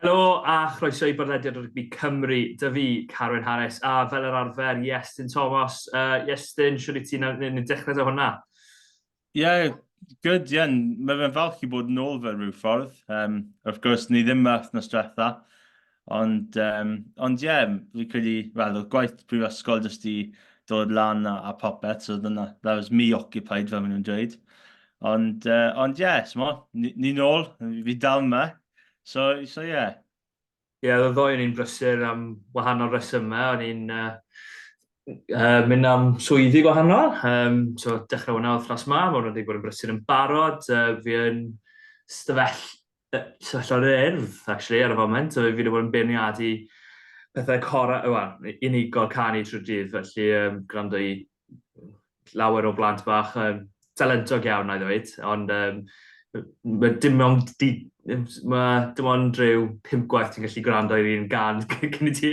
Helo a chroeso i bodlediad rygbi Cymru, dy fi, Carwyn Harris, a fel yr arfer, Iestyn Thomas. Uh, Iestyn, siwr i ti'n yn dechrau da hwnna? Ie, yeah, good, ie. Yeah. Mae fe'n falch i bod yn ôl fe rhyw ffordd. Um, of gwrs, ni ddim yma wythnos diwetha. Ond, um, ond ie, yeah, fi credu, wel, oedd gwaith prifysgol jyst i dod lan a, a popeth, so dyna, that was me occupied, fel maen nhw'n dweud. Ond, uh, ond ie, yeah, ni'n ôl, fi dal yma. So, so ie. Yeah. Ie, yeah, ddoe o'n i'n brysur am wahanol resymau. O'n i'n uh, uh, mynd am swyddi gwahanol. Um, so, dechrau hwnna oedd fras ma, mae hwnna wedi bod yn brysur yn barod. Uh, fi yn stafell sefyllfa'r Urdd, actually, ar y foment. Fi wedi bod yn beirniadu pethau cora, wel, unigol canu trwy'r dydd, felly um, gwrando i lawer o blant bach um, talentog iawn, na i ddweud, ond um, mae dim ond di, mae dim ond rhyw pimp gwaith ti'n gallu gwrando i'r un gan cyn i ti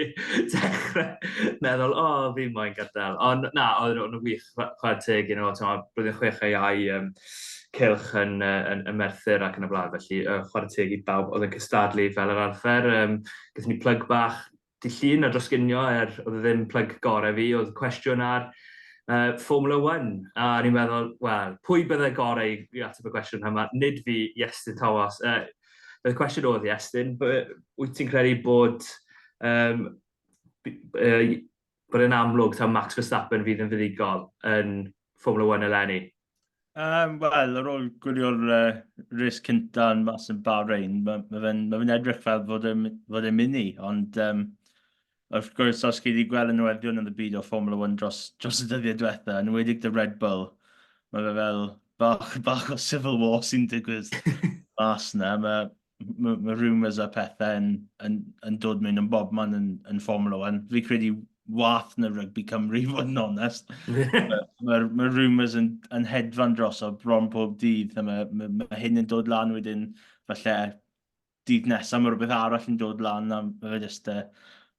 dechrau meddwl, o, oh, fi moyn gadael. Ond na, oedd nhw'n wych, chwarae teg, you know, blwyddyn chwech ei ai, um, cylch yn yy yn yn Merthyr ac yn y blaen felly yy chware teg i bawb oedd yn cystadlu fel yr arfer yym gaethon ni plug bach dy' Llun a dros ginio er oedd e ddim plug gore fi oedd cwestiwn ar yy Formula One a o'n i'n meddwl wel pwy bydde gore i i ateb y cwestiwn yma nid fi Iestyn Thomas yy y cwestiwn oedd Iestyn by- wyt ti'n credu bod yym b- yy Bod e'n amlwg taw Max Verstappen fydd yn fuddugol yn Formula One eleni? Um, Wel, ar ôl gwylio'r uh, res cynta yn mas yn Bahrain, mae ma fe'n ma fe edrych fel fod e'n e mynd i, ond um, wrth gwrs, os chi wedi gweld y newyddion yn y byd o Formula 1 dros, dros y dyddiau diwetha, yn wedig dy Red Bull, mae fe fel bach, bach o civil war sy'n digwydd mas yna. Mae mae ma rumours a pethau yn, yn, yn dod mewn yn bob man yn, yn Formula 1. Fi credu wath na rygbi Cymru, fod yn onest. Mae'r ma, ma rumours yn, yn hedfan dros o bron pob dydd. Mae ma, ma hyn yn dod lan wedyn, falle dydd nesaf mae rhywbeth arall yn dod lan. A mae fe just, uh,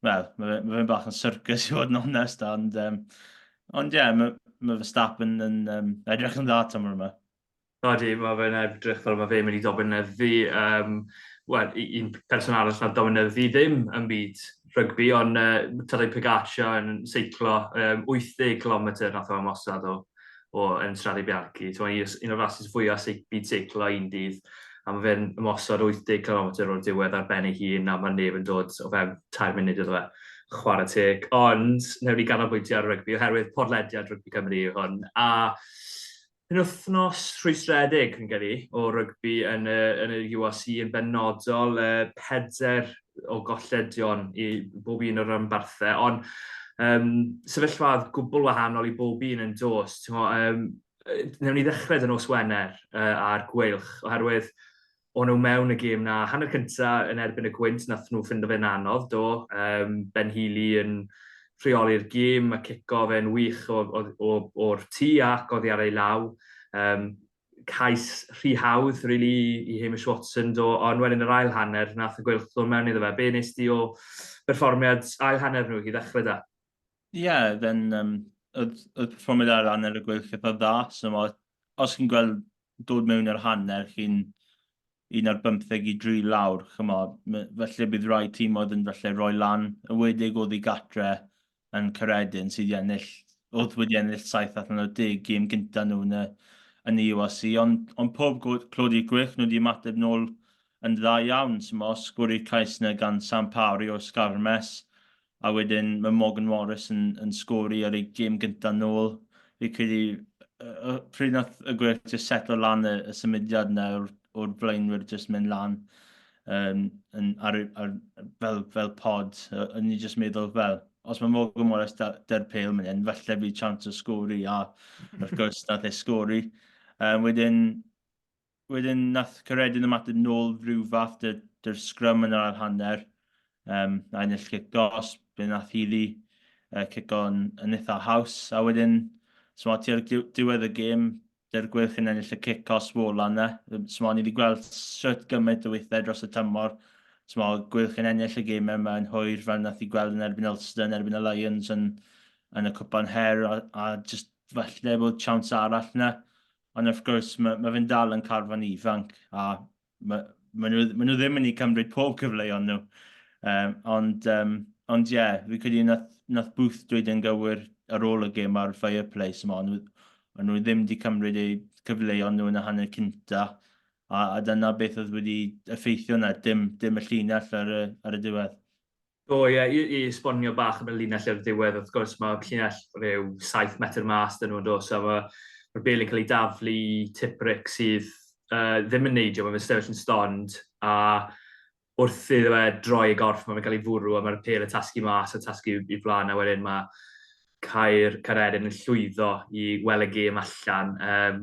wel, mae fe, ma fe'n bach yn circus i fod yn onest. Ond, um, ond ie, yeah, mae ma Verstappen yn um, edrych yn dda tymor yma. Odi, mae fe'n edrych fel mae fe'n mynd i dominyddu, um, well, un person arall na dominyddu ddim yn byd rygbi, ond uh, Tadej Pogacar yn seiclo um, 80 km nath o'n mosad o, o yn Strade Bianchi. So, mae un o'r rasis fwyaf seic, byd seiclo un dydd, a mae fe'n mosod 80 km o'r diwedd ar ben ei hun, a mae neb yn dod o fewn 4 munud iddo fe chwarae teg. Ond, newn ni ganolbwyntio ar rygbi, oherwydd podlediad rygbi Cymru yw hwn, a Penwythnos rhwystredig, fi'n credu, o rygbi yn y, yn y URC yn benodol, y peder o golledion i bob un o'r ymbarthau, ond um, sefyllfad gwbl wahanol i bob un yn dos. Um, newn ni ddechrau dyn nos Wener uh, a'r Gweilch, oherwydd o'n nhw mewn y gêm na. Hanner cynta yn erbyn y gwynt, nath nhw ffindo fe'n anodd, do. Um, ben Healy yn rheoli'r gêm, mae cico fe'n wych o'r tu ac oddi ar ei law. Um, cais rhy hawdd, really, i Hamish Watson do, ond wedyn yr ail hanner, nath y gwylch ddod mewn iddo fe. Be nes di o berfformiad ail hanner nhw i ddechrau da? Ie, yeah, then, um, oedd, oedd performiad ail hanner y gwylch eitha dda, so ma, os chi'n gweld dod mewn i'r hanner cyn un ar bymtheg i dri lawr, chymod, falle bydd rhai tîmoedd yn falle rhoi lan y wedig oddi gatre yn Caeredin sydd i ennill, oedd wedi ennill saith allan o deg gêm gynta nhw yn y, yn y URC, ond, ond pob clod i'r gwych, nhw wedi ymateb nôl yn dda iawn, sy'n os gwrdd i'r cais yna gan San Paori o Sgarmes, a wedyn mae Morgan Morris yn, yn sgori ar ei gêm gyntaf nôl. Fi'n credu uh, pryd nath y gwerth just setlo lan y, y symudiad yna o'r, or blaenwyr just mynd lan um, yn, ar, ar, fel, fel pod. O'n ni just meddwl fel, os mae Morgan Morris dy'r pel mynd hyn, falle fi chance o sgori a wrth gwrs nath e sgori. Um, wedyn, Wedyn nath Caeredin ymateb nôl rhyw fath dy, dy'r sgrym yn yr ail hanner, um, a ennill cic dos, fe nath Healy uh, cico yn, yn eitha haws, a wedyn, so ti ar diwedd y gêm, dy'r gwylch yn ennill y cic os wola yna. So ni wedi gweld sut gymaint o weithiau dros y tymor, so ma gwylch yn ennill y gêm yma yn hwyr fel nath i gweld yn erbyn Ulster, yn erbyn y Lions yn, yn y cwpan her, a, a just falle bod chawns arall yna. Ond wrth gwrs, mae, mae fe'n dal yn carfan ifanc, a mae, mae, nhw, mae nhw ddim yn ei cymryd pob cyfleoedd nhw. Um, ond, um, ond ie, yeah, fi credu nath, nath Booth dweud yn gywir ar ôl y gêm ar Fireplace yma, nhw, ond nhw ddim wedi cymryd eu cyfleoedd nhw yn y hanner cynta, a, a dyna beth oedd wedi effeithio na, dim, dim y llinell ar y, ar y diwedd. Do, ie, i, i esbonio bach am y linell ar y diwedd, wrth gwrs mae llinell rhyw 7 metr mas dyn nhw'n dod, so mae mae'r bel yn cael ei daflu i tipric sydd uh, ddim yn neidio, mae'n sefyll yn stond, a wrth iddo fe droi y gorff, mae'n cael ei fwrw, a mae'r pel yn tasgu mas a tasgu i flaen, a wedyn mae cair Caeredin yn llwyddo i wel y gêm allan. Um,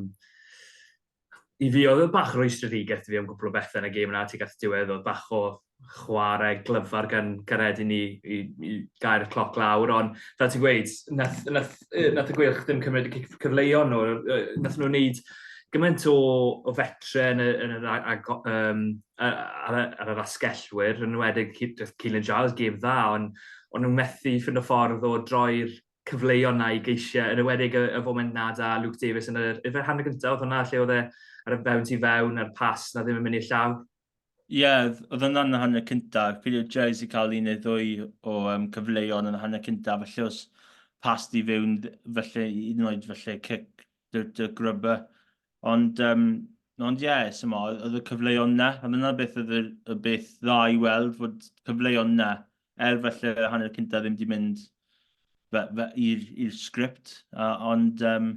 I fi oedd e bach rwystredigaeth i fi am gwpl o bethe yn y gêm yna tuag at y diwedd, oedd bach o chwarae glyfar gan Gared i ni i, i gael y cloc lawr, ond fel ti'n gweud, nath, nath, nath y Gweilch ddim cymryd y cyfleuon nhw, nath nhw wneud gymaint o, o fetre yn, y, yn yr, ag, um, ar, ar, ar yr asgellwyr, yn enwedig Keelan Giles, gêm dda, ond ond nhw'n methu ffind o ffordd o droi'r cyfleuon na'i geisiau, yn ewedig y, y foment na da Luke Davies yn yr efer hanner gyntaf, oedd hwnna lle oedd e ar y fewn tu fewn a'r pas na ddim yn mynd i'r llaw. Ie, yeah, oedd hwnna'n y hanner cyntaf. Pili o Jez i cael un neu ddwy o um, cyfleuon yn y hanner cyntaf, felly os pas di fewn, felly un yn oed felly cic dy, dy grybau. Ond, um, ond ie, yeah, sy'n oedd y cyfleuon na, a dyna beth oedd y, y beth dda i weld, fod cyfleuon na er falle hanner cyntaf ddim wedi mynd i'r sgript, ond um,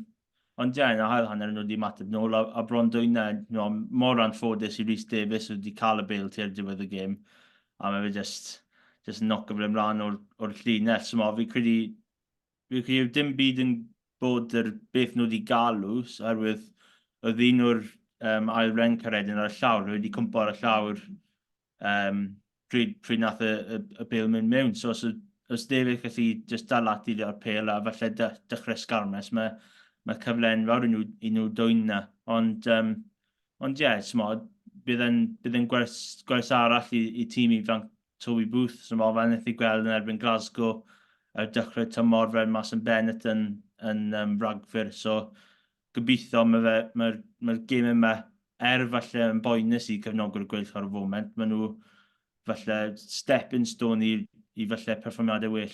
ond ie, yn yr hael hanner nhw wedi mateb nôl, a, a bron dwy'n e, no, mor anffodus i Rhys Davies wedi cael y bel tu'r diwedd y gêm, a mae fe just, just yn nocio fe ymlaen o'r, or llinell, so mae fi credu, fi credu dim byd yn bod yr beth nhw wedi galw, oherwydd oedd un o'r um, ail ren caredyn ar y llawr, nhw wedi cwmpo ar y llawr um, pryd, pryd nath y, y, y bel mynd mewn. So os, os David gallu just dal at i ar pel a falle dechrau sgarmes, mae, mae cyfle enfawr i nhw, i nhw dwy'n na. Ond, um, ond ie, yeah, smod, bydd yn, bydd yn gwers, gwers arall i, i tîm i fanc Toby Booth, so mae fe'n eithaf gweld yn erbyn Glasgow ar dechrau tymor fel mas yn Bennett yn, yn um, ragfyr. So, gobeithio ma fe ma'r ma'r geme ma er falle yn boenus i cefnogwyr gwyllt o'r foment ma nhw falle step in stone i i falle perfformiade well.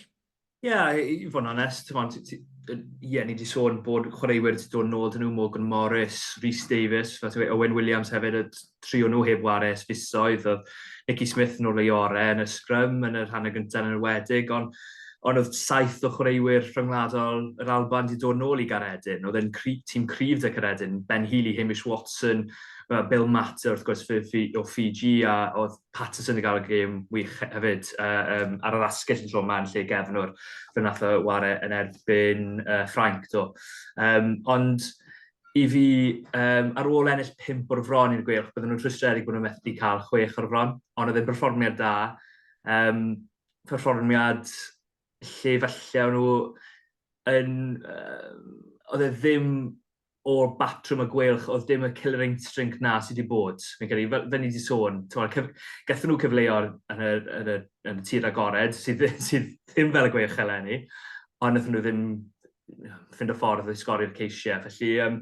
Ie i fod yn onest t'mod ti ti yy ie ni 'di sôn bod chwaraewyr 'di dod nôl 'dyn nhw Morgan Morris, Rhys Davies fel ti'n gweud Owen Williams hefyd yy tri o nhw heb ware ers fisoedd, oedd Nicky Smith yn ôl ei orau yn y sgrym yn y rhan y gyntaf yn enwedig, ond ond oedd saith o chwaraewyr rhyngwladol yr Alban wedi dod nôl i Garedin. Oedd e'n cri, tîm cryf de Caredin, Ben Healy, Hamish Watson, Bill Matter wrth gwrs o Fiji a oedd Patterson yn cael y gêm wych hefyd uh, um, ar yr asgell yn tro yma yn lle gefnwr fe nath o ware yn erbyn uh, Ffrainc do. Um, ond i fi, um, ar ôl ennill pimp o'r fron i'r gweilch, bydden nhw'n rhwystredig bod nhw'n methu cael chwech o'r fron, ond oedd e'n berfformiad da. Um, performiad lle falle o'n nhw yn... Uh, oedd e ddim o'r batrwm y gweilch, oedd dim y killer instinct na sydd wedi bod. Fi'n credu, fel, fel ni wedi sôn, cyf... gathen nhw cyfleo yn y, yn y, yn y tir agored, sydd, sydd ddim fel y gweilch eleni, ond wnaethon nhw ddim ffind o ffordd i sgori'r ceisiau. Felly, um,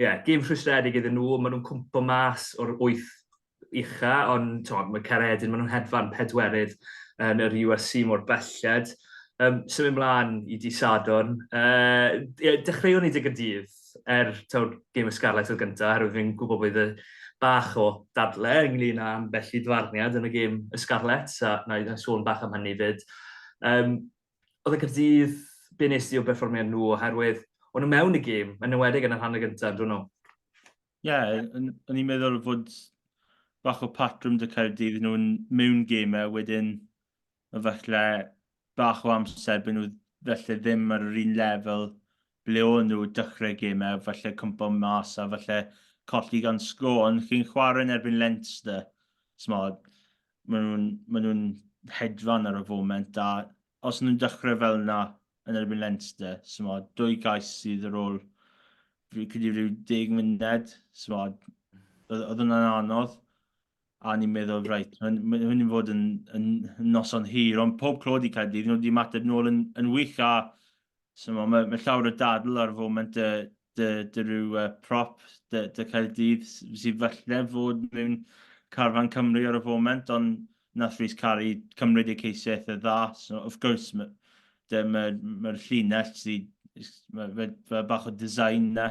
yeah, gym rhwystredig iddyn nhw, maen nhw'n cwmpo mas o'r wyth ucha, ond to, mae Caredin, maen nhw'n hedfan pedwerydd yn yr URC mor belled. Um, symud mlaen i di Sadon. Uh, yeah, dechreuwn ni dig y dydd er tawr gym y Scarlet oedd gyntaf, oherwydd fi'n gwybod bod y bach o dadle ynglyn â ambell i dfarniad yn y gym y Scarlet, a na i sôn bach am hynny fyd. Um, oedd y Caerdydd be nes di o berfformiad nhw oherwydd o'n nhw mewn y gêm, yn ymwedig yn y rhan y gyntaf, dyn nhw? Ie, yeah, o'n i'n meddwl fod bach o patrwm dy Caerdydd nhw'n mewn gêmau wedyn efallai bach o amser byd nhw felly ddim ar yr un lefel ble o'n nhw dechrau gemau, falle cwympo mas a falle colli gan sgôr, ond chi'n chwarae yn erbyn Leinster, smod, maen nhw'n ma nhw hedfan ar y foment, a os nhw'n dechrau fel yna yn erbyn Leinster, smod, dwy gais sydd ar ôl fi'n credu rhyw deg munud, smod, oedd hwnna'n anodd, a ni'n meddwl, reit, hwn i'n fod yn, yn, yn noson hir, ond pob clod i Caerdydd, nhw wedi mateb nôl yn, yn wych, a Chimod, mae, mae llawer o dadl ar y foment dy, dy, dy rhyw uh, prop, dy, dy Caerdydd, sydd falle fod mewn carfan Cymru ar y foment, ond nath Rhys Cari cymryd eu ceisiau eitha dda. So, of course, mae'r ma, ma, ma llinell sydd, mae ma, ma bach o design na,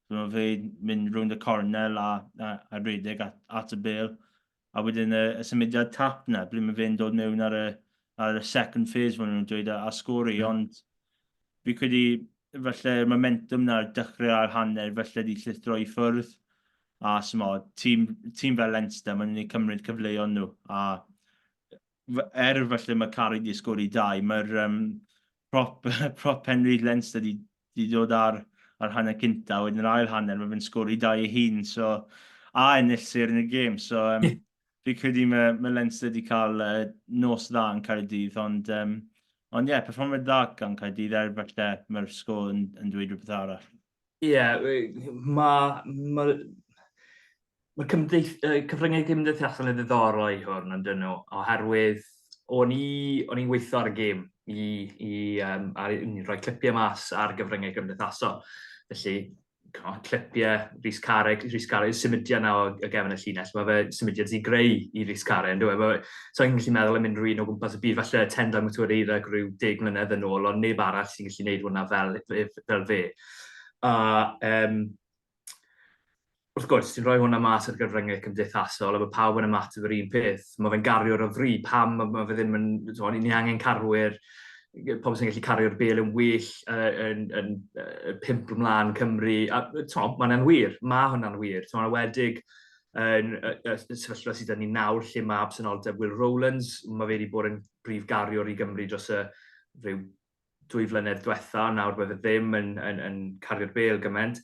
so, mae fe mynd rwy'n y cornel a, a, a redeg at, at y bel. a wedyn y symudiad tap 'na, ble mae fe'n dod mewn ar y, ar y second phase, maen nhw'n dweud, a, a sgori, ond fi credu felly'r momentum na'r dechrau a'r hanner felly wedi llithro i ffwrdd a symo, tîm, tîm fel Leinster, maen nhw'n ei cymryd cyfleoedd nhw a er falle mae Carrick wedi sgori dau, mae'r um, prop, prop Henry Leinster wedi, wedi dod ar, ar hanner cynta, wedyn yr ail hanner, mae fe'n sgori dau ei hun, so, a ennill ser yn y gêm. So, um, fi credu mae, mae Leinster wedi cael uh, nos dda yn Caerdydd, ond um, ond ie, yeah, perfformiad dda gan Caerdydd er falle mae'r sgôl yn, yn dweud rhywbeth arall. Ie, mae ma, ma cymdeith, uh, cyfryngau cymdeithasol yn ddiddorol i hwn, ond dyn nhw, oherwydd o'n i, o'n i'n weithio ar y gêm i, i um, ar, rhoi clipiau mas ar gyfryngau cymdeithasol. Felly, clipiau Rhys Carreg, Rhys Carreg, symudiad na o gefn y llinell, mae fe symudiad sy'n greu i Rhys Carreg, ynddo e? So i'n gallu meddwl am unrhyw un o gwmpas y byd, falle Tendai Mutureira rhyw deg mlynedd yn ôl, ond neb arall sy'n gallu gwneud hwnna fel gyda fe. A um, wrth gwrs, ti'n rhoi hwnna mas ar gyfryngau cymdeithasol a mae pawb yn ymateb yr un peth. Mae fe'n gario'r o fri, pam mae, mae fe ddim yn... O'n ni angen carwyr, pobl sy'n gallu cario'r bel yn well uh, yn, yn, uh, pimp ymlaen Cymru. A mae'n anwir, mae hwnna'n wir. Mae'n awedig yn y sefyllfa sydd yn ni nawr lle mae absenoldeb Will Rowlands, mae fe wedi bod yn brif gariwr i Gymru dros y rhyw dwy flynedd diwetha, ond nawr mae fe ddim yn, yn, yn cario'r bel gymaint.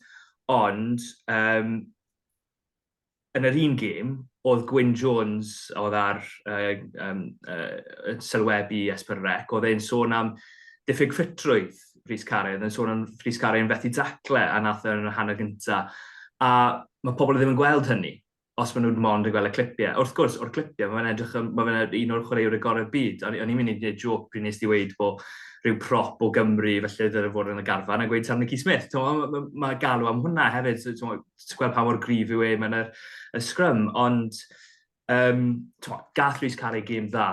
Ond, um, yn yr un gêm, oedd Gwyn Jones, oedd ar uh, um, uh, sylwebu Esper Rec, oedd e'n sôn am diffyg ffitrwydd Rhys Carey, oedd e'n sôn am Rhys Carey yn fethu dacle a nath e yn y hanner gyntaf. A mae pobl ddim yn gweld hynny. os maen nhw'n mond yn gweld y clipiau. Wrth gwrs, o'r clipiau, mae'n edrych yn, mae fe'n un o'r chwaraewr y gorau byd. O'n i'n mynd i gwneud joc pryd nes di weid bod rhyw prop o Gymru, felly ddylen fod yn y garfan, a gweud Sam Nicky Smith. Mae ma, ma galw am hwnna hefyd, ti'n gweld pa mor grif yw e mae'n y, y sgrym, ond um, gall Rhys cael ei gêm dda,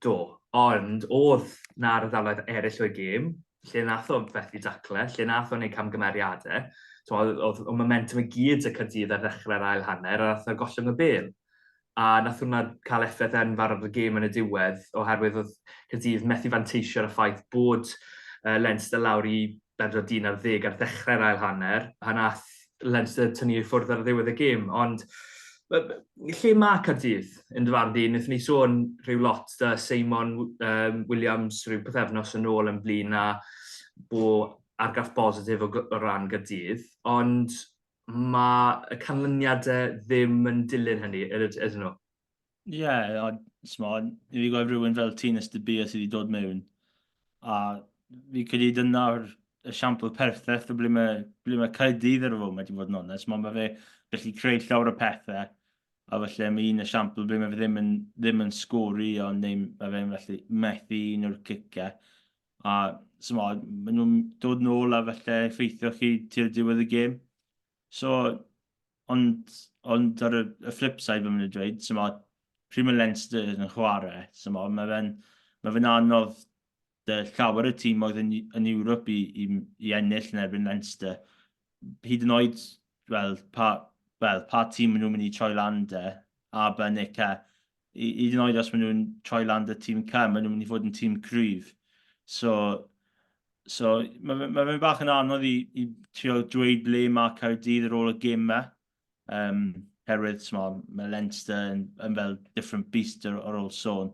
Do, ond oedd 'na ardaloedd eraill o'i gêm lle wnaeth o fethu daclau, lle wnaeth o wneud camgymeriadau. Tibod, oedd, oedd y momentum i gyd 'da Caerdydd ar ddechrau'r ail hanner a wnaeth o gollwng y bêl. A wnaeth hwnna cael effaith enfawr ar y gêm yn y diwedd oherwydd oedd Caerdydd methu fanteisio ar y ffaith bod yy Leinster lawr i bedwar dyn ar ddeg ar ddechrau'r ail hanner, pan aeth Leinster tynnu i ffwrdd ar ddiwedd y gêm, ond lle mae Caerdydd yn dy farn di? Wnaethon ni sôn rhyw lot da Seimon um, Williams rhyw pethefnos yn ôl yn blin a bo argraff bositif o, o ran Caerdydd, ond mae y canlyniadau ddim yn dilyn hynny, ydyn nhw? Ie, yeah, a smod, i fi gweld rhywun fel ti'n ystybio sydd wedi dod mewn. A fi credu dyna'r esiampl pertheth o ble mae, ble mae Caerdydd ar y foment i fod yn onest. Mae fe gallu creu llawer o pethau. A felly mae un esiampl ble mae fe ddim yn, ddim yn sgori ond neu mae fe'n felly methu un o'r cicau. A smod, maen nhw'n dod nôl a felly effeithio chi tu'r diwedd y gêm. So, Ond, ond ar y, y flip side mae'n mynd i dweud, so mae pryd mae Leinster yn chwarae, so mae, mae fe'n mae fe anodd dy llawer y tîm oedd yn, yn Ewrop i, i, i ennill yn erbyn Leinster. Hyd yn oed, wel, pa, well, pa tîm maen nhw'n mynd i troi lan de, a ben eich hyd yn oed os maen nhw'n troi lan dy tîm cam, maen nhw'n mynd i fod yn tîm cryf. So, so mae fe, ma fe bach yn anodd i, i trio dweud ble mae Caerdydd ar ôl y gym yma. Um, herwydd, smol, mae Leinster yn, yn fel different beast ar, ar ôl sôn.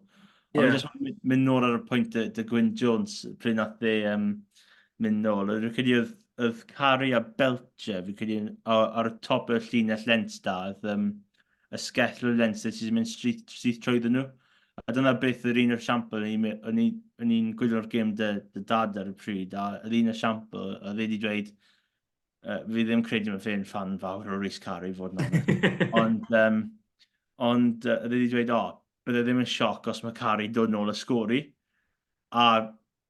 Yeah. Ond jyst mynd, mynd nôl ar y pwynt y, y Gwyn Jones, pryd nath e um, mynd nôl. Rwy'n credu oedd, oedd Cari a Belcher, fi'n credu ar y top y llinell Leinster, oedd um, y sgell rwy'r lenses sy'n mynd syth trwyddyn nhw. A dyna beth oedd un o'r siampl, o'n i'n gwylio'r gêm dy, dy dad ar y pryd, a oedd un o'r siampl, oedd wedi dweud, uh, fi ddim credu mae fe'n fan fawr o Rhys Carey fod yna. ond, um, ond uh, oedd wedi dweud, o, oh, bydde ddim yn sioc os mae Carey dod nôl y sgori. A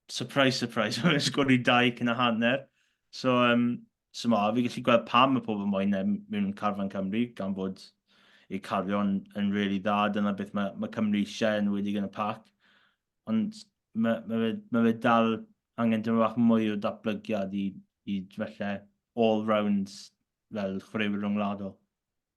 surprise, surprise, mae'n sgori dau cyn a hanner. So, um, So ma, fi gallu gweld pam mae pobl moyn e mewn carfan Cymru, gan fod eu carion yn really dda, dyna beth mae, mae Cymru eisiau yn wedi yn y pac. Ond mae, mae, fe, mae fe dal angen dyma bach mwy o datblygiad i, i felly all-round fel chwaraewyr rhyngwladol.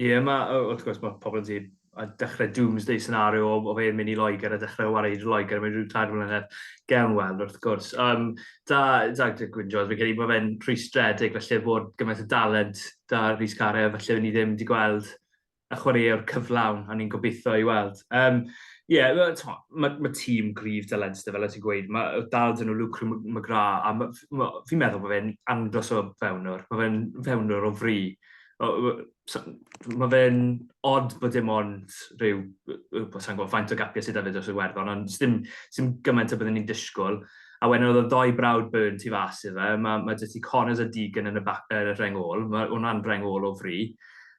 Ie, ma', yy, wrth gwrs, ma' pobl yn dweud, a dechrau doomsday scenario o, o fe'n mynd i Loegr a dechrau o warae i Loegr mewn rhyw tair mlynedd. Gewn weld, wrth gwrs. Um, da, da, Gwyn Jones, fi'n credu bod fe'n rhwystredig, felly bod gymaint o dalent da Rhys Care, felly ni ddim wedi gweld y chwaraewr cyflawn, a ni'n gobeithio i weld. Um, Ie, yeah, mae ma, ma tîm gryf dalentyd fel y ti'n gweud. Mae dal dyn nhw Lucre McGrath, a fi'n meddwl bod fe'n andros o fewnwr. Mae fe'n fewnwr o fri. mae fe'n odd bod dim ond rhyw, sa'n gwybod faint o gapiau sydd hefyd dros y werddon, ond dim, dim gymaint o byddwn ni'n disgwyl. A wedyn oedd y ddoi brawd Byrne tu fas i fe, mae, mae dyty Connors a Deegan yn y, bac, er y rheng ôl, mae hwnna'n rheng ôl o fri.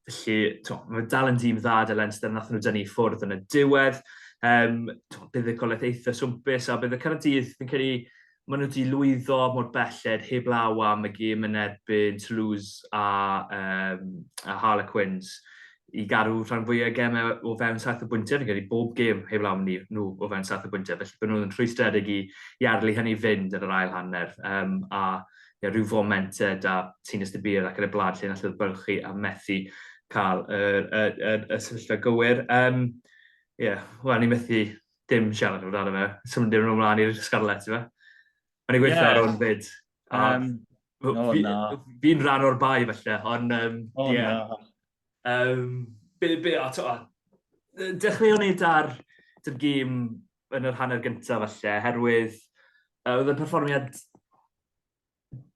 Felly, to, mae dal yn dîm dda dy Leinster, nath nhw dynnu ffwrdd yn y diwedd. Um, to, bydd y golaeth eitha swmpus, a bydd y Caradîdd yn cael ei maen nhw 'di lwyddo mor belled heblaw am y gêm yn erbyn Toulouse a, um, a Harlequins i garu rhan fwyaf gemau o fewn saith o bwyntiau, fi'n credu bob gêm heblaw am ni, nhw o fewn saith o bwyntiau, felly bod nhw'n rhwystredig i, i arlu hynny fynd yn yr ail hanner, um, a yeah, rhyw foment uh, da Tines de Bir ac yn y blad lle allodd bylchu a methu cael y, y, y, y sefyllfa gywir. Um, yeah, wel, ni methu dim siarad amdano fe. Swn ddim yn ymlaen i'r Scarlets, ife? Mae'n ei gweithio yeah. ar o'n fyd. Um, no, fi, no. Fi'n rhan o'r bai, felly, ond... Um, oh, yeah. no. Um, be, be, a, to, a, dechreuon ni da'r gym yn yr hanner gyntaf, felly, herwydd uh, oedd y perfformiad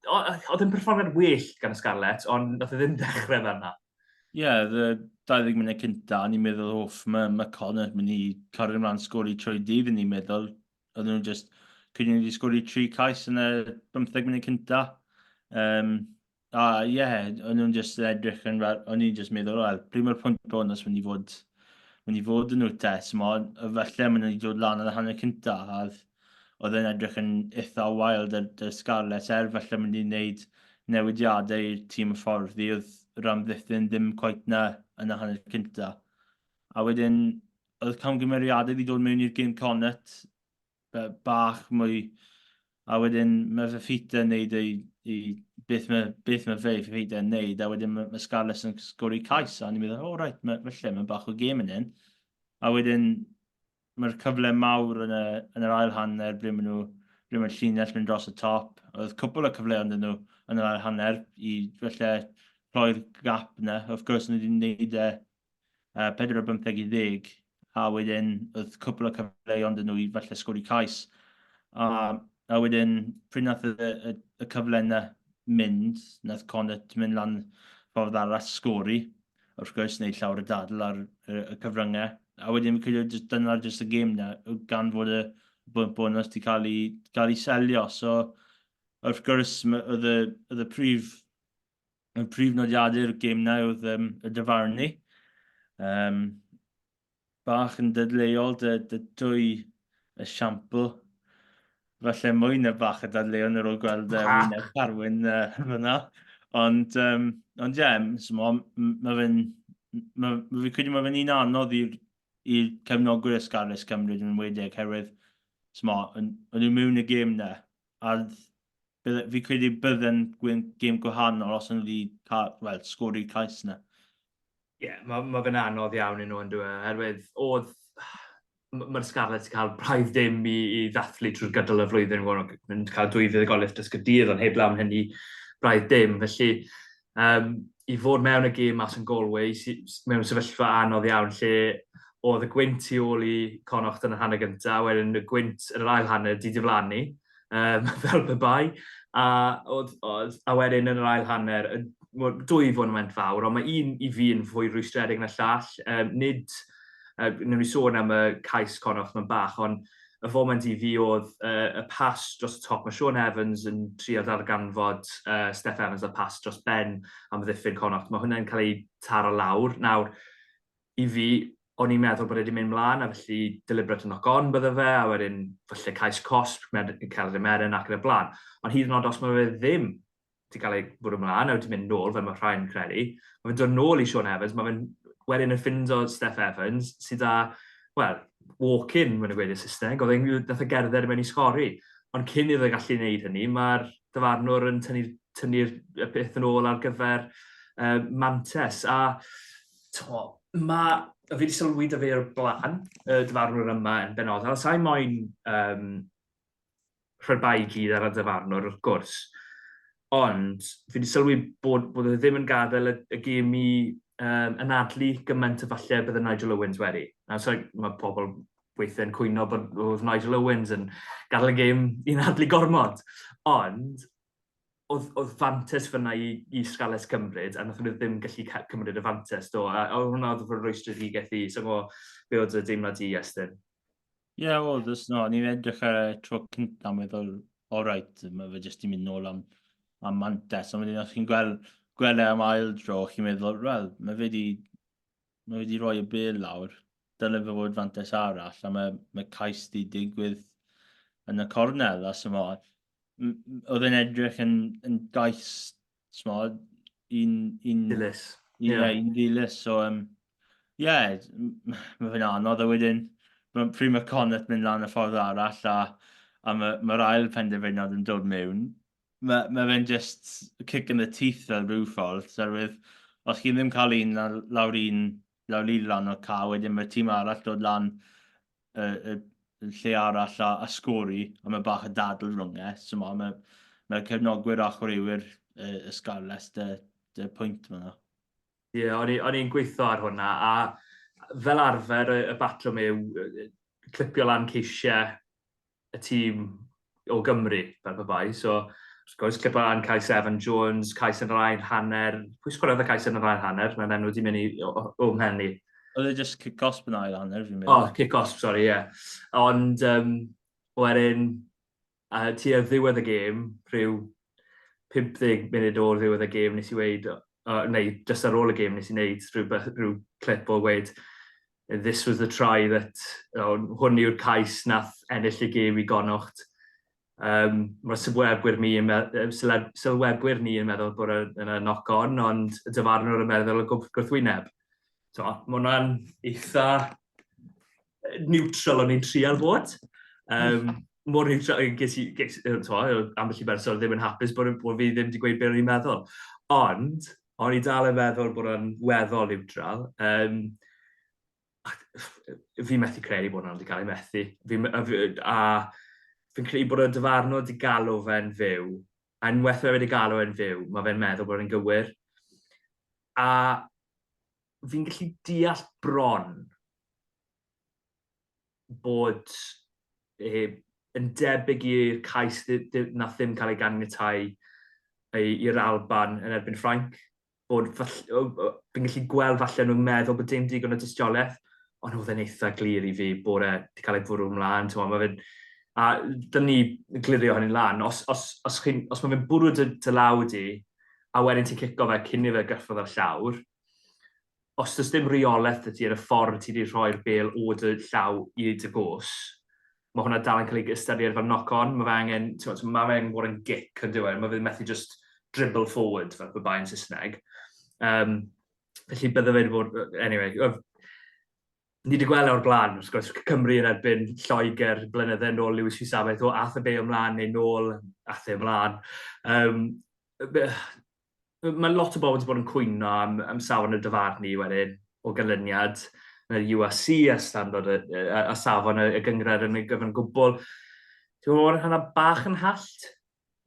oedd yn perfformiad well gan y Scarlets, ond nath e ddim dechrau fel yna. Ie, yeah, y 20 munud cynta, o'n i'n meddwl, hoff, mae ma Connor mynd i cario ymlaen sgori trwy dydd, o'n i'n meddwl, oedd nhw'n just, cyn i ni sgori tri cais yn y 15 munud cynta. Um, a ie, yeah, o'n nhw'n just edrych yn fel, o'n i'n just meddwl, wel, pryd mae'r pwynt bod os mynd i fod, mynd i fod yn nhw te, so falle mynd i dod lan yn y hanner cynta, a oedd yn edrych yn eitha' wael 'da'r Scarlets er falle mynd i wneud newidiadau i'r tîm y ffordd ddodd yr amddiffyn ddim cweit 'na yn y hanner cynta'. A wedyn oedd camgymeriadau 'di dod mewn i'r gêm Connacht be- bach mwy a wedyn mae Fifita yn neud ei i beth mae beth mae fe Fifita yn neud a wedyn mae ma' Scarlets yn sgori cais a o'n i'n meddwl o reit ma' falle ma' bach o gêm yn hyn. A wedyn Mae'r cyfle mawr yn y yn yr ail hanner ble maen nhw ble mae'r llinell mynd dros y top. Oedd cwpl o cyfle ond nhw yn yr ail hanner i felly rhoi'r gap yna. Wrth gwrs nhw wedi gwneud e uh, 4 o 15 i ddeg a wedyn oedd cwpl o cyfle ond nhw i felly sgori cais. A, a wedyn pryd nath y, y, y cyfle yna mynd, nath Connett mynd lan ffordd arall sgori. wrth gwrs, neu llawr y dadl ar y cyfryngau. A wedyn fi'n credu jyst dyna jyst y gêm na, gan fod y bwynt bonus wedi cael ei, cael ei selio. So, wrth gwrs, oedd y, oedd y prif, y prif nodiadau'r gêm na oedd um, y dyfarnu. Um, bach yn dadleuol, dy, dy dwy esiampl. Falle mwy na bach y dadleuon ar ôl gweld uh, wyneb Carwyn uh, fyna. Ond, um, ond ie, yeah, so mae ma fe'n... Mae ma fi credu mae fe'n un anodd i'r i cefnogwyr ysgarus Cymru yn enwedig, herwydd sma, o'n nhw mewn y gêm na. A bydde, fi credu bydde'n gêm gwahanol os o'n nhw wedi cael, well, sgori cais na. Ie, mae ma fe'n anodd iawn i nhw yn dweud, oherwydd oedd... Mae'r Scarlets wedi cael braidd dim i, i ddathlu trwy'r gydol y flwyddyn, yn cael dwy fuddugoliaeth dysgu dydd, ond heb lawn hynny braidd dim. Felly, um, i fod mewn y gêm mas yn Galway, mewn sefyllfa anodd iawn, lle oedd y gwynt tu ôl i Connacht yn y hanner gyntaf, wedyn y gwynt yn yr ail hanner di diflannu, um, fel pe bai, a, oedd, oedd, a wedyn yn yr ail hanner, dwy fod yn went fawr, ond mae un i fi yn fwy rwystredig na llall. Um, nid, uh, newn ni sôn am y cais conoff mae'n bach, ond y foment i fi oedd uh, y pas dros y top. Mae Sean Evans yn trio darganfod uh, Steph Evans a pas dros Ben am ddiffyn Connacht. Mae hwnna'n cael ei taro lawr. Nawr, I fi, o'n i'n meddwl bod e 'di mynd 'mlan a felly deliberate knock on bydde fe a wedyn falle cais cosb, med- celf y meren ac yn y blaen. Ond hyd yn oed os mae fe ddim 'di cael ei bwrw 'mlan a wedi mynd nôl fel mae rhai'n credu, mae fe'n dod nôl i Shaun Evans, mae fe'n wedyn yn ffindo Steff Evans sydd â, wel, walk-in, mae'n nhw'n gweud yn Saesneg, oedd e'n nath e gerdded mewn i sgori. Ond cyn iddo fe gallu gwneud hynny, mae'r dyfarnwr yn tynnu'r tynnu y peth yn ôl ar gyfer uh, Mantes. A to, mae, fi wedi sylwi dy fe o'r blaen, y dyfarnwr yma yn benodol, sa'i moyn um, rhyrbai i gyd ar y dyfarnwr, wrth gwrs. Ond fi wedi sylwi bod, bod e ddim yn gadael y, y gym i um, anadlu gymaint o falle bydd y Nigel Owens wedi. Na, so, mae pobl weithiau'n cwyno bod oedd Nigel Owens yn gadael y gêm i'n adlu gormod. Ond oedd, oedd fantes fyna i, i Scarlets cymryd, a nath nhw ddim gallu cymryd y fantes do, a, a hwnna oedd fod rwystredigaeth i, so mo, be oedd y deimlad i, Estyn? Ie, yeah, oedd, ys no, ni'n edrych ar y tro cyntaf, a meddwl, all right, mae fe jyst i'n mynd nôl am, am mantes, ond wedyn, os chi'n gweld, gweld e am ail dro, chi'n meddwl, wel, mae fe wedi, mae fe wedi rhoi y bel lawr, dylai fe fod fantes arall, a mae, mae cais di digwydd yn y cornel, a sy'n so, oedd yn edrych yn, yn gais, smod, un... un dilys. Ie, yeah. yeah, un dilys. So, um, yeah, mae fe'n anodd a wedyn, pryd mae Connaught mynd lan y ffordd arall a, a mae'r ma, ma ail penderfyniad yn dod mewn, mae, mae fe'n just kick in the teeth fel rhyw ffordd, oherwydd os chi ddim cael un lawr un lawr lan o'r ca, wedyn mae'r tîm arall dod lan y, y, y lle arall a, a sgori, a mae bach o dadl rhwng e. So mae, mae, mae cefnogwyr a chwaraewyr y, y Scarlets dy, dy pwynt fanna. Ie, yeah, o'n i'n gweithio ar hwnna, a fel arfer y, y batrwm yw clipio lan ceisiau y tîm o Gymru, fel pe bai. So, wrth gwrs, Liban, Cais Evan Jones, Cais yn yr ail hanner. Pwy sgwriodd y Cais yn yr ail hanner? Mae'n enw di mynd i o'm hen i. Oedd e just kick osp yn ail hanner, fi'n meddwl. O, oh, kick osp, sori, ie. Yeah. Ond, um, wedyn, uh, ti ar ddiwedd y gêm, rhyw 50 munud o'r ddiwedd y gêm, nes i weid, uh, neu just ar ôl y gêm, nes i wneud rhyw, rhyw clip o weid, This was the try that, oh, hwn yw'r cais nath ennill y gêm i Gonocht. Um, mae sylwebwyr ni, yn sylwebwyr ni yn meddwl bod yna knock on, ond y dyfarnwr yn meddwl y gwrthwyneb. So, mae hwnna'n eitha neutral o'n i'n trial bod. Um, mor neutral, ges i, ges, to, ambell i berson ddim yn hapus bod, bod fi ddim wedi gweud beth o'n i'n meddwl. Ond, O'n i dal yn meddwl bod o'n weddol niwtral. Um, fi methu credu bod hwnna wedi cael ei methu. Fi, a, a fi'n credu bod y dyfarnwr wedi galw fe'n fyw, a unwaith mae wedi galw fe'n fyw, mae fe'n meddwl bod e'n gywir. A fi'n gallu deall bron bod e yn debyg i'r cais nath ddim cael ei ganiatáu i'r Alban yn erbyn Ffrainc, bod fi'n gallu gweld falle nhw'n meddwl bod dim digon o dystiolaeth, ond oedd e'n eitha glir i fi bod e wedi cael ei fwrw ymlaen, ti'n gwybod, mae fe'n... A dyna ni glirio hynny'n lan. Os, os, os, chi, os mae fe'n bwrw dy, dy law di, a wedyn ti'n cico fe cyn i fe gyffrodd ar llawr, Os does dim reolaeth 'da ti ar y ffordd ti 'di rhoi'r bêl o dy llaw i dy gôs, mae hwnna dal yn cael ei ystyried fel knock-on. Mae fe angen, timod, so mae fe angen bod yn gic, yn dyw e? Mae fe ddim methu jyst dribble forward, fel pe bai yn Saesneg. Um, felly bydde fe wedi bod... Anyway, ni wedi gweld e o'r blaen, wrth gwrs, Cymru yn erbyn Lloegr blynyddau yn ôl Lewis Fisabaeth, o, ath y be ymlaen neu nôl, ath e ymlaen. Um, mae lot o bobl wedi bod yn cwyno am, am safon y dyfarnu wedyn o ganlyniad y UAC a standard y, a, a safon y, y gyngred yn ei gyfan gwbl. Ti'n gwybod bod hynna bach yn hallt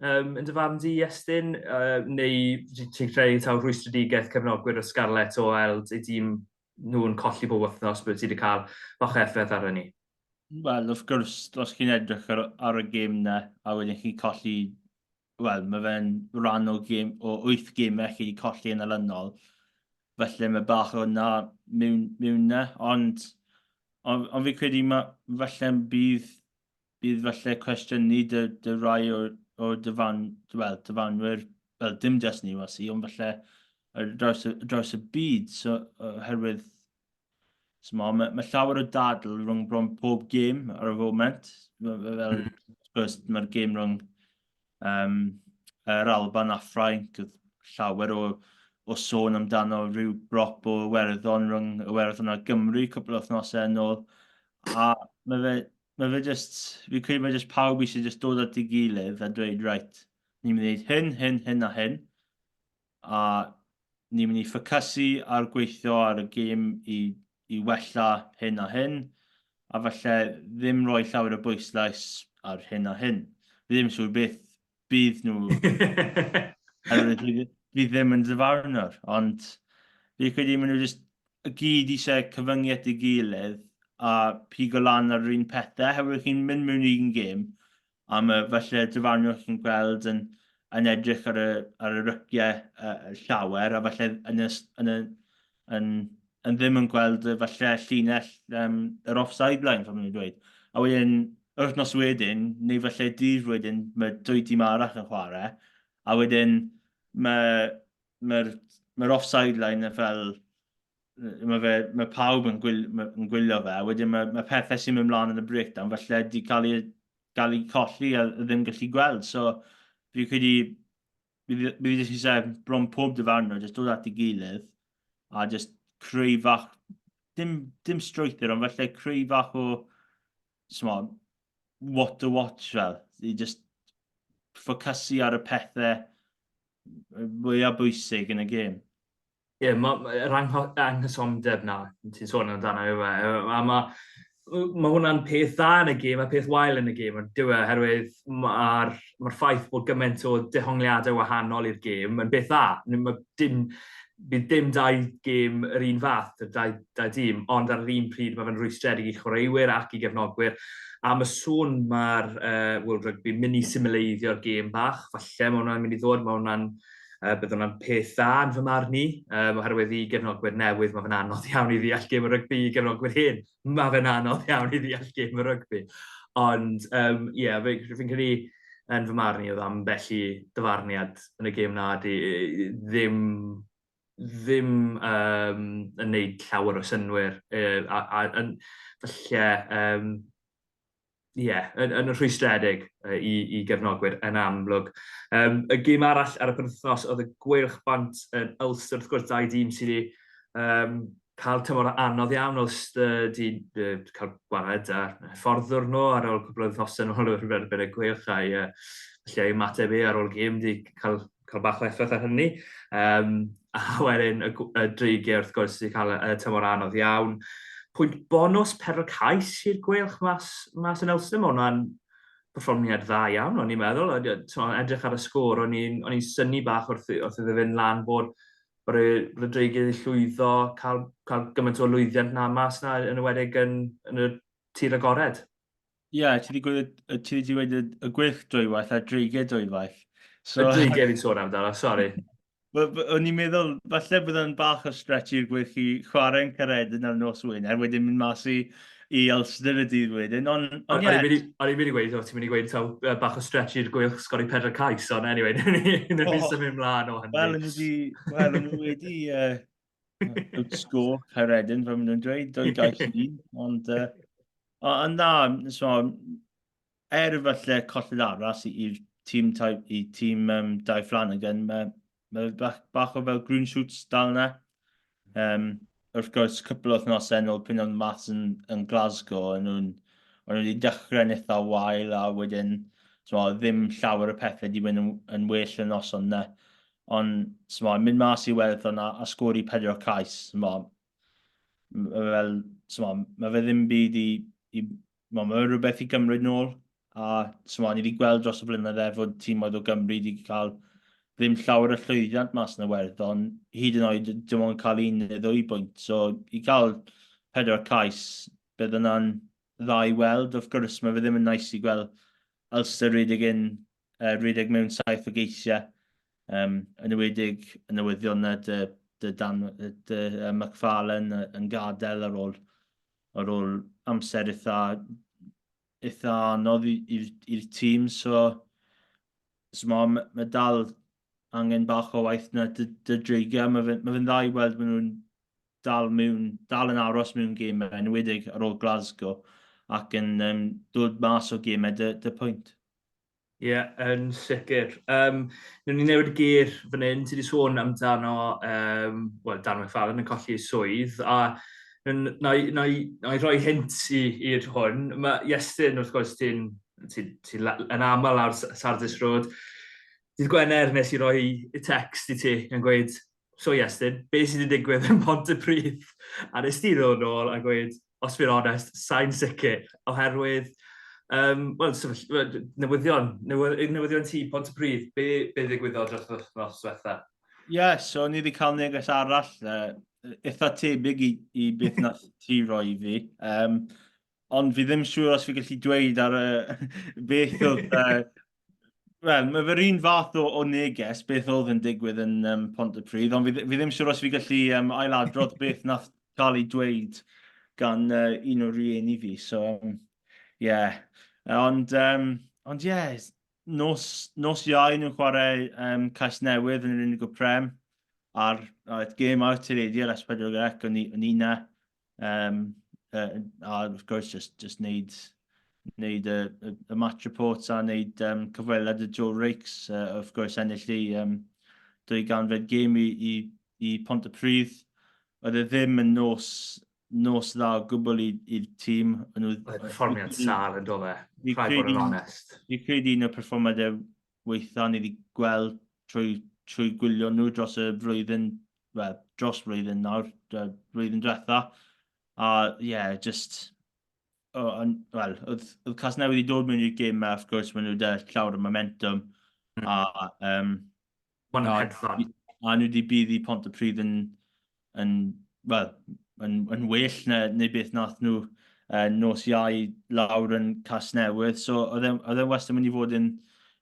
um, yn dyfarn di, Estyn, uh, neu ti'n credu taw rhwystredigaeth cefnogwyr o Scarlett o weld ei dîm nhw'n colli bob wythnos bod ti wedi cael bach o effaith ar hynny? Wel, wrth gwrs, os chi'n edrych ar, ar y gêm na, a wedyn chi'n colli wel, mae fe'n rhan o, gym, o 8 gymau chi wedi colli yn alynol. Felly mae bach o hwnna mewn, mewn na, ond, ond, ond fi credu ma, felly bydd, bydd felly cwestiynu dy, dy rai o, o dyfan, well, dyfanwyr, well, dim jas ni was i, ond felly draws, draws y byd, so, oherwydd Mae ma, ma llawer o dadl rhwng bron pob gêm ar y foment. Fel, mm. mae'r gêm rhwng um, yr Alban a Ffrainc, llawer o, o sôn amdano rhyw brop o werddon rhwng y werddon a Gymru cwpl o wythnosau yn ôl. A mae fe, mae fe just, fi credu mae just pawb eisiau just dod at ei gilydd a dweud, right, ni'n mynd i wneud hyn, hyn, hyn a hyn. a ni'n mynd i ffocysu ar gweithio ar y gêm i, i wella hyn a hyn, a falle ddim rhoi llawer o bwyslais ar hyn a hyn. Fi ddim siŵr beth bydd nhw, oherwydd fi, fi ddim yn ddyfarnwr, ond fi credu maen nhw jyst y gyd eisiau cyfyngu at ei gilydd a pigo lan ar yr un pethau, oherwydd chi'n mynd mewn i'n gêm, am y, falle, y dyfarnwr chi'n gweld yn, yn edrych ar y, ar y ryciau uh, llawer, a falle yn, y, yn, y, yn, yn ddim yn gweld y, falle llinell um, yr offside line, fel maen dweud. A wedyn, wythnos wedyn, neu falle dydd wedyn, mae dwy tîm arall yn chwarae, a wedyn mae'r mae, mae, mae offside line yn fel mae, fe, mae pawb yn, gwyl, yn gwylio fe, a wedyn mae, mae pethau sy'n mynd mlaen yn y breakdown, felly wedi cael ei, cael ei colli a ddim gallu gweld. So, fi credu, mi wedi jyst eisiau bron pob dyfarnwr, jyst dod at ei gilydd, a jyst creu fach, dim, dim strwythyr, ond felly creu fach o, sma, what to watch fel, i jyst ffocysu ar y pethau mwyaf bwysig yn y gêm. Ie, ma' ma' yr angho- anghysondeb 'na ti'n sôn amdano yw e? Yy a ma' yy ma' hwnna'n peth dda yn y gêm a peth wael yn y gêm on'd oherwydd ma'r ma'r ffaith bod gyment o dehongliade wahanol i'r gêm yn beth dda. Ni- ma' dim bydd dim dau gêm yr un fath y dau dau dîm ond ar yr un pryd ma' fe'n rwystredig i chwaraewyr ac i gefnogwyr. Am y sôn ma'r yy World Rugby myn' i simileiddio'r gêm bach falle ma' wnna'n mynd i ddod ma' wnna'n Yy, bydd hwnna'n peth dda yn fy marn i, um, oherwydd i gefnogwyr newydd mae fe'n anodd iawn i ddeall gêm y rygbi, i gefnogwyr hyn mae fe'n anodd iawn i ddeall gêm y rygbi. Ond, ie, um, yeah, fi'n credu yn fy marn i oedd am felly dyfarniad yn y gêm na di ddim ddim um, yn neud llawer o synwyr uh, a, a, a falle um, ie, yn, yn rhwystredig uh, i, i gefnogwyr yn amlwg. Um, y gym arall ar y penwthnos oedd y gweilch bant yn Ulster, wrth gwrs, dau dîm sydd wedi um, cael tymor anodd iawn o styd i uh, cael gwared a fforddwr nhw ar ôl cwbl o wythnosau yn ôl o'r erbyn y gweilch a'i uh, lle ymateb ei ar ôl gym wedi cael cael bach o effaith ar hynny. Um, a wedyn y, y dreigiau wrth gwrs sy'n cael y tymor anodd iawn. Pwynt bonus perl cais i'r gwelch mas, mas yn Elstyn. Mae hwnna'n perfformiad dda iawn, o'n i'n meddwl. O'n edrych ar y sgôr, o'n i'n syni bach wrth, wrth iddo fynd lan bod bod y, bod y dreigiau wedi llwyddo, cael, cael gymaint o lwyddiant na mas na yn y wedig yn, yn y tir agored. Ie, yeah, ti wedi gweud y gwych dwywaith a dreiged dwywaith. So, y dreiged fi'n sôn amdano, sori. O'n i'n meddwl, falle bod yn bach o stretch i'r gwych i chwarae'n cared yn ar nos wyn, er wedyn mynd mas i, i Ulster y dydd wedyn. O'n on, i'n mynd i gweud, ti'n mynd i gweud taw bach o stretch i'r gwych sgori pedra cais, ond anyway, nid ni'n symud mlaen o hynny. Wel, yn wedi, wel, yn wedi, uh, Good score, Caeredin, fe nhw'n dweud, dwy gael llun, ond... Uh, ond na, so, er falle colled arall i'r tîm, i tîm um, Dai Flanagan, mae ma bach, bach o fel green shoots dal yna. Um, wrth gwrs, cwpl o wythnos yn ôl pyn o'n maths yn, yn Glasgow, yn nhw'n o'n nhw wedi dechrau yn eitha wael a wedyn so, ddim llawer o pethau wedi mynd yn, yn well yn noson yna. Ond, t'mod, mynd mas i Iwerddon a, a sgori pedwar cais, t'mod, mae fel, t'mod, mae fe ddim byd i, i mae fe rhywbeth i gymryd nôl. A, t'mod, ni wedi gweld dros y blynydde fod tîmoedd o Gymru wedi cael ddim llawer o llwyddiant mas yn Iwerddon, hyd yn oed dim ond cael un neu ddwy bwynt. So, i cael pedwar cais, bydd yna'n dda i weld. Wrth gwrs, mae fe ddim yn nais i gweld Ulster redig yn uh, rhedeg mewn saith o geisiau, um, yn ywedig yn newyddion na dy, dy, dan, dy uh, McFarlane yn gadael ar ôl, ar ôl amser eitha, eitha anodd i'r tîm. So, so mae ma dal angen bach o waith na dy, dy dreigiau. Mae fe'n ma fe dda i weld maen nhw'n dal, mewn, dal yn aros mewn gymau, yn wedig ar ôl Glasgow, ac yn um, dod mas o gymau dy, dy pwynt. Ie, yn sicr. Um, Nw'n ni newid y gyr fan hyn, ti wedi sôn amdano, um, wel, Dan McFarlane yn colli ei swydd, a na i, na i, na i roi hint i'r hwn. Mae Iestyn, wrth gwrs, ti'n ti, ti yn aml ar Sardis Road. Dydd Gwener nes i roi y text i ti yn gweud, So Iestyn, be sydd wedi digwydd yn Mhontypridd? A nes ti ddod nôl a gweud, os fi'n onest, sain sicr, oherwydd, um, well, newyddion, newyddion ti Pontypridd, be, be ddigwyddodd dros y wythnos diwetha? Ie, yeah, so ni wedi cael neges arall, uh, eitha tebyg i, i beth nath ti roi fi. Um, ond fi ddim siŵr os fi gallu dweud ar y beth oedd... Uh, Wel, mae fe'r un fath o, o neges beth oedd yn digwydd yn um, Pont y Pryd, ond fi, fi ddim siŵr os fi gallu um, ailadrodd beth nath cael ei dweud gan uh, un o'r rieni fi. So, um, yeah. Ond, um, ond yeah, nos, nos iau nhw'n chwarae um, Cais Newydd yn yr unig o prem, a'r, a'r gêm out i'r eidir as pedwar ac o'n i, i na, Um, uh, a wrth gwrs, just, just neud, neud y, y, y match reports a neud um, cyfweliad y Joe Rakes. Uh, wrth gwrs, ennill i um, dwy ganfed gêm i, i, i Pont y Pryd. Oedd e ddim yn nos, nos dda o gwbl i'r tîm. Oedd perfformiad sal yn dole, rhaid bod yn onest. Dwi'n credu un o'r perfformiadau wnaethon ni gweld trwy trwy gwylio nhw dros y flwyddyn, wel, dros flwyddyn nawr, y flwyddyn diwetha. A ie, yeah, just... O, on, well, oedd, oedd cas newydd i dod mewn i'r gym a wrth gwrs maen nhw wedi llawr y momentum. Mm. A, um, Mae'n hedfan. A nhw wedi bydd i Pont y Pryd yn yn, well, yn, yn well na, neu beth nath nhw uh, nos iau lawr yn Casnewydd. So oedd e'n e wastad mynd i fod yn,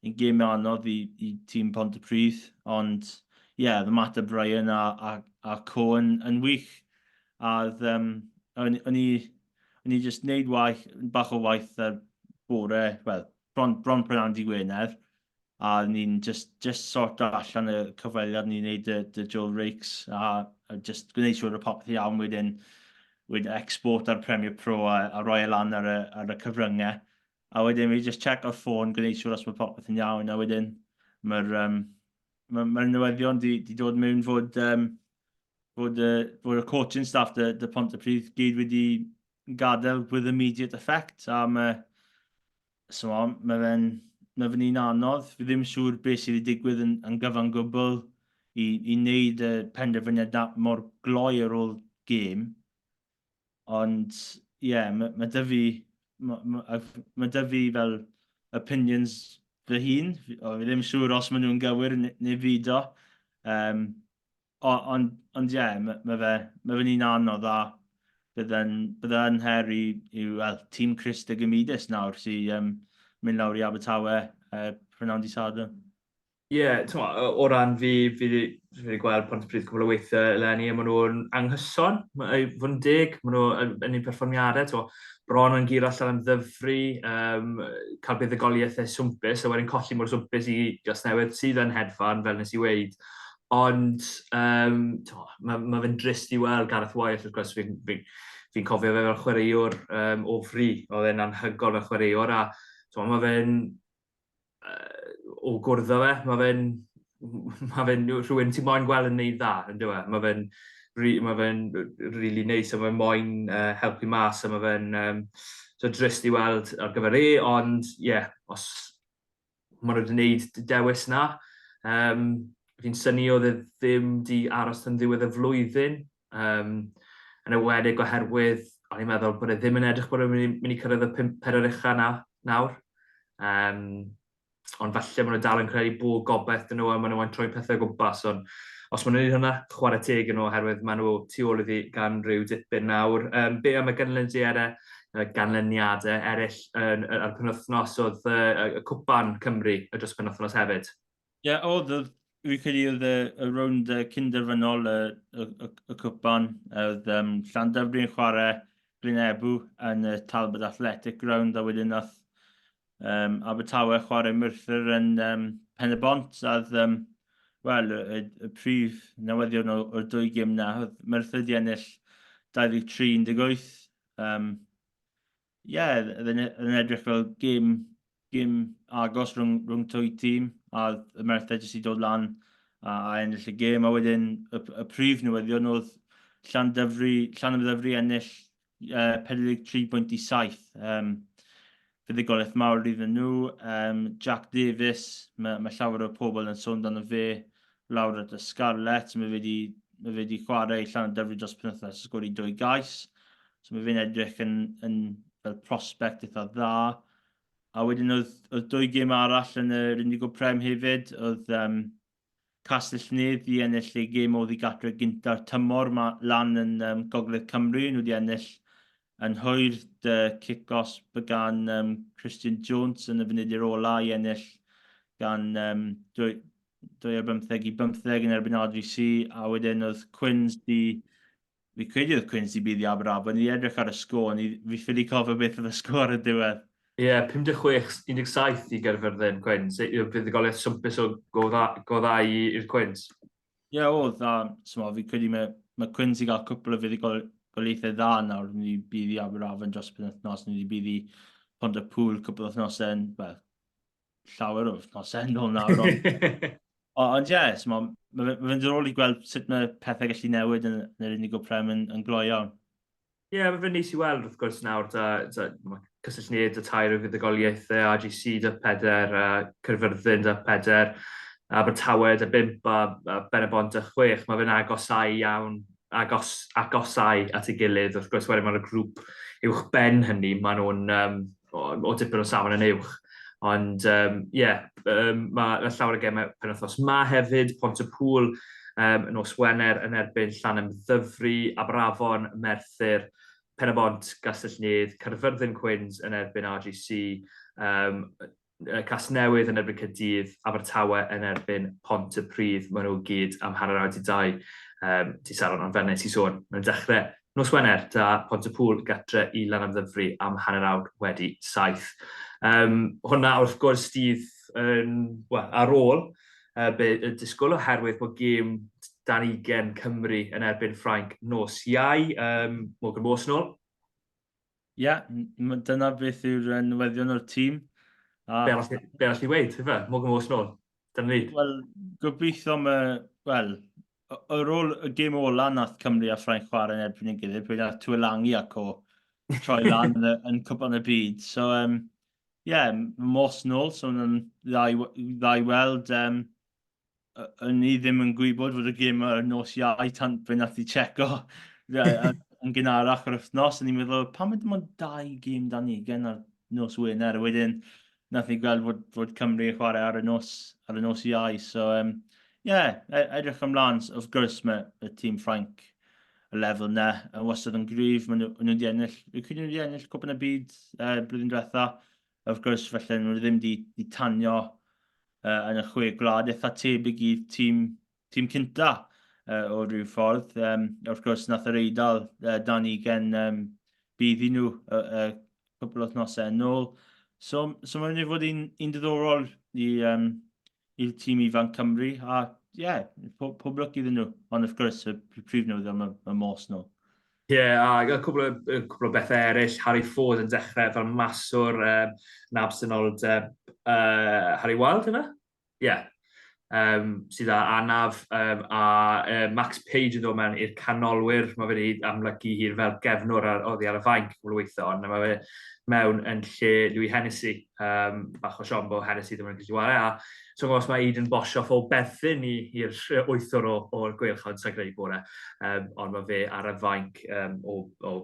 yn gêm anodd i, i tîm Pont y Pryd, ond ie, yeah, oedd Matt O'Brien a, a, a Co yn, yn wych. A oedd, um, o'n i, o'n i just neud waith, bach o waith ar bore, wel, bron, bron prynhawn di Gwener, a ni'n just, just sort allan y cyfweliad, ni'n neud y, y Joel Rakes, a, a just gwneud siŵr y popeth iawn wedyn, wedi export ar Premiere Pro a, a roi e lan ar y, ar y cyfryngau. A wedyn fi just check o'r ffôn, gwneud siŵr os mae popeth yn iawn, a wedyn mae'r um, ma, ma newyddion di, di dod mewn fod, um, fod, uh, fod y coaching staff dy, dy pont y pryd gyd wedi gadael with immediate effect, a mae Chimod, mae fe'n, mae fe'n un anodd. Fi ddim yn siŵr beth sydd wedi digwydd yn, yn gyfan gwbl i, i wneud y penderfyniad na mor gloi ar ôl gêm. Ond, ie, yeah, mae, mae dy fi, mae, mae, mae dy fi fel opinions fy hun. O, fi ddim yn siŵr os maen nhw'n gywir neu fyd o. Um, Ond, ond ie, mae ma fe, mae fe'n un anodd a bydde'n bydde yn her i, i well, tîm Christ y Gymidus nawr sy'n um, mynd lawr i Abertawe uh, prynawn di Sadwrn. Ie, yeah, o ran fi, fi wedi gweld pont pryd cwbl o weithiau eleni, a maen nhw'n anghyson, i fod yn deg, maen nhw yn un perfformiadau, to, bron yn gyr allan am ddyfru, um, cael buddugoliaethau swmpus, a wedyn colli mor swmpus i Gasnewydd sydd yn hedfan, fel nes i weid. Ond, um, to, mae, mae fe'n drist i weld Gareth Wyeth, wrth gwrs, fi'n fi, fi cofio fe fel chwaraewr um, o fri, oedd e'n anhygol fel chwaraewr, a to, mae fe'n, uh, o gwrdd fe, mae fe'n, mae fe'n rhywun ti'n moyn gweld yn neud dda, yn dweud, e? mae fe'n, mae fe'n really neis, a mae fe'n moyn uh, helpu mas, a mae fe'n, um, so drist i weld ar gyfer e, ond, ie, yeah, os maen nhw wedi gwneud y dewis yna. Um, fi'n syni oedd e ddim di aros yn ddiwedd y flwyddyn, um, yn ewedig oherwydd o'n i'n meddwl bod e ddim yn edrych bod e'n mynd i cyrraedd y pum pedwar ucha na, nawr. Um, ond falle maen nhw dal yn credu bod gobeith dyn nhw a maen nhw'n troi pethau o gwmpas. Ond os maen nhw'n gwneud hwnna, chwarae teg yn nhw oherwydd maen nhw tu ôl iddi gan rhyw dipyn nawr. Um, be am y gynlyn di ere? y ganlyniadau eraill yn, y, y penwthnos oedd y, y cwpan Cymru y dros penwthnos hefyd? Ie, yeah, oedd, oedd fi'n credu oedd y, y rownd uh, cynderfynol y, y, y, y cwpan, oedd um, Llandyfri yn chwarae Bryn Ebw yn y Talbot Athletic Ground, a wedyn oedd um, Abertawe chwarae Merthyr yn um, Pen y Bont, a oedd, um, wel, y, y, y prif newyddion o'r dwy gym na, oedd Merthyr di ennill 23-18, Um, yeah, oedd yn edrych fel gym, gym agos rhwng, rhwng twy tîm, a y merthed jyst i dod lan a, a ennill y gym, a wedyn y, y prif newyddion oedd Llan Dyfri, Llan Dyfri ennill uh, 43 bwynt i 7. Um, fuddugoliaeth mawr iddyn nhw. Yym, Jack Davies, mae, mae llawer o pobl yn sôn amdano fe lawr at y Scarlets. Mae fe wedi, mae fe wedi chwarae llan o dyfri dros penwythnos a sgori dwy gais. So mae fe'n edrych yn, yn fel prospect eitha dda. A wedyn oedd, oedd dwy gêm arall yn yr Indigo Prem hefyd, oedd um, Castell Nedd 'di ennill eu gêm oddi gartref gynta'r tymor 'ma lan yn um, Gogledd Cymru. Nhw 'di ennill yn hwyr dy cicos by gan um, Christian Jones yn y funudi'r ola i ennill gan um, 25 i bymtheg yn erbyn RGC a wedyn oedd Quins 'di Fi credu oedd Quincy Bydd i Aberafon, o'n i 'di edrych ar y sgôr, o'n i fi ffili cofio beth oedd y sgôr ar y diwedd. Ie, 56, 17 i Gaerfyrddin, Quins. Yy, yy, buddugoliaeth swmpus o go dda, go dda i, i'r Quins. Ie, yeah, oedd, a so, fi credu mae, mae Quins i gael cwpl o fuddugoliaethau dda nawr, ni wedi bydd i Aberafon dros y penwythnos, ni wedi bydd i Pont y Pŵl cwpl o wythnosau, well, llawer o wythnosau yn ôl nawr. Ond ie, yeah, so mae'n ma, ma, ma ddiddorol i gweld sut mae pethau gallu newid yn, yn yr unig o prem yn, yn gloi iawn. Ie, yeah, mae fe'n neis i weld wrth gwrs nawr, da, da, mae cysylltiad y tair o fuddugoliaethau, AGC da peder, a Cyrfyrddin da peder, a Abertawe da bimp, a, a Benabont da chwech. Mae fe'n agosau iawn agos, agosau at ei gilydd, wrth gwrs wedyn mae'r grŵp uwch ben hynny, maen nhw'n um, o, o dipyn o safon yn uwch. Ond ie, um, yeah, um, mae ma llawer o gemau penwthnos ma hefyd, Pont y Pŵl um, nos Wener yn erbyn Llan Ymddyfri, Aberafon, Merthyr, Penabont, Gastell Nedd, Caerfyrddin Cwins yn erbyn RGC, um, Casnewydd yn erbyn Caerdydd, Abertawe yn erbyn Pontypridd. Maen nhw gyd am hanner awr di dau. Um, ti Saron, ond fel nes i sôn, mae'n dechrau nos Wener, da Pontypŵl gatre i Lanamddyfri am hanner awr wedi saith. Um, hwna wrth gwrs dydd yn, well, ar ôl uh, be y disgwyl oherwydd bod gêm dan ugen Cymru yn erbyn Ffrainc nos Iau, um, Morgan Morse nôl. Ie, dyna beth yw'r newyddion o'r tîm. A... Be arall i weid, efe? Mwg yn fos nôl. Dyna ni. Wel, gobeithio yma, wel, yr ôl y gêm ola nath Cymru a Ffrainc chwarae yn erbyn yn gilydd, pwy nath Tuolangi ac o troi lan yn, yn cwpan y byd. So, um, yeah, mos nôl, so mae'n dda i weld um, o'n ni ddim yn gwybod fod y gym ar y nos iau tan fe nath i checo yn gynharach yr wythnos. O'n i'n meddwl, pam ydym ond dau gym dan ni gen ar nos Wener? A wedyn, nath ni gweld fod, fod Cymru yn chwarae ar y nos, ar y nos iau. So, um, yeah, e, edrych ymlaen. Wrth gwrs, mae y tîm Ffrainc y lefel na, yn wastad yn gryf. Maen nhw wedi ennill, y cyd nhw wedi ennill cwpan y byd uh, blwyddyn diwetha. wrth gwrs, felly nhw ddim di, di tanio uh, yn y chwe gwlad eitha tebyg i tîm, tîm cynta uh, o rhyw ffordd. Um, wrth gwrs, nath yr eidl uh, dan i gen um, bydd i nhw uh, uh, cwpl o thnosau yn ôl. So, so mae'n ei fod yn un diddorol i, um, i'r tîm ifanc Cymru, a ie, yeah, pob, pob lwc iddyn nhw. Ond wrth gwrs, y prif newyddion mae, mae Mors nhw. Ie, yeah, a cwbl, cwbl o bethau eraill. Harry Ford yn dechrau fel maswr um, yn absenoldeb uh, Harry Wild yna? Ie. Yeah. Um, sydd â anaf um, a uh, Max Page yn dod mewn i'r canolwyr. Mae fe wedi amlygu hi fel gefnwr ar, oddi ar y fainc cwbl o weithio, ond mae fe mewn yn lle Louis Hennessy. um, bach o siom bod Hennessy ddim yn gallu chwarae, a so os mae Eden bosh off o berthyn i'r wythwr o'r gweilchod sy'n greu bore, um, ond mae fe ar y fainc um, o, o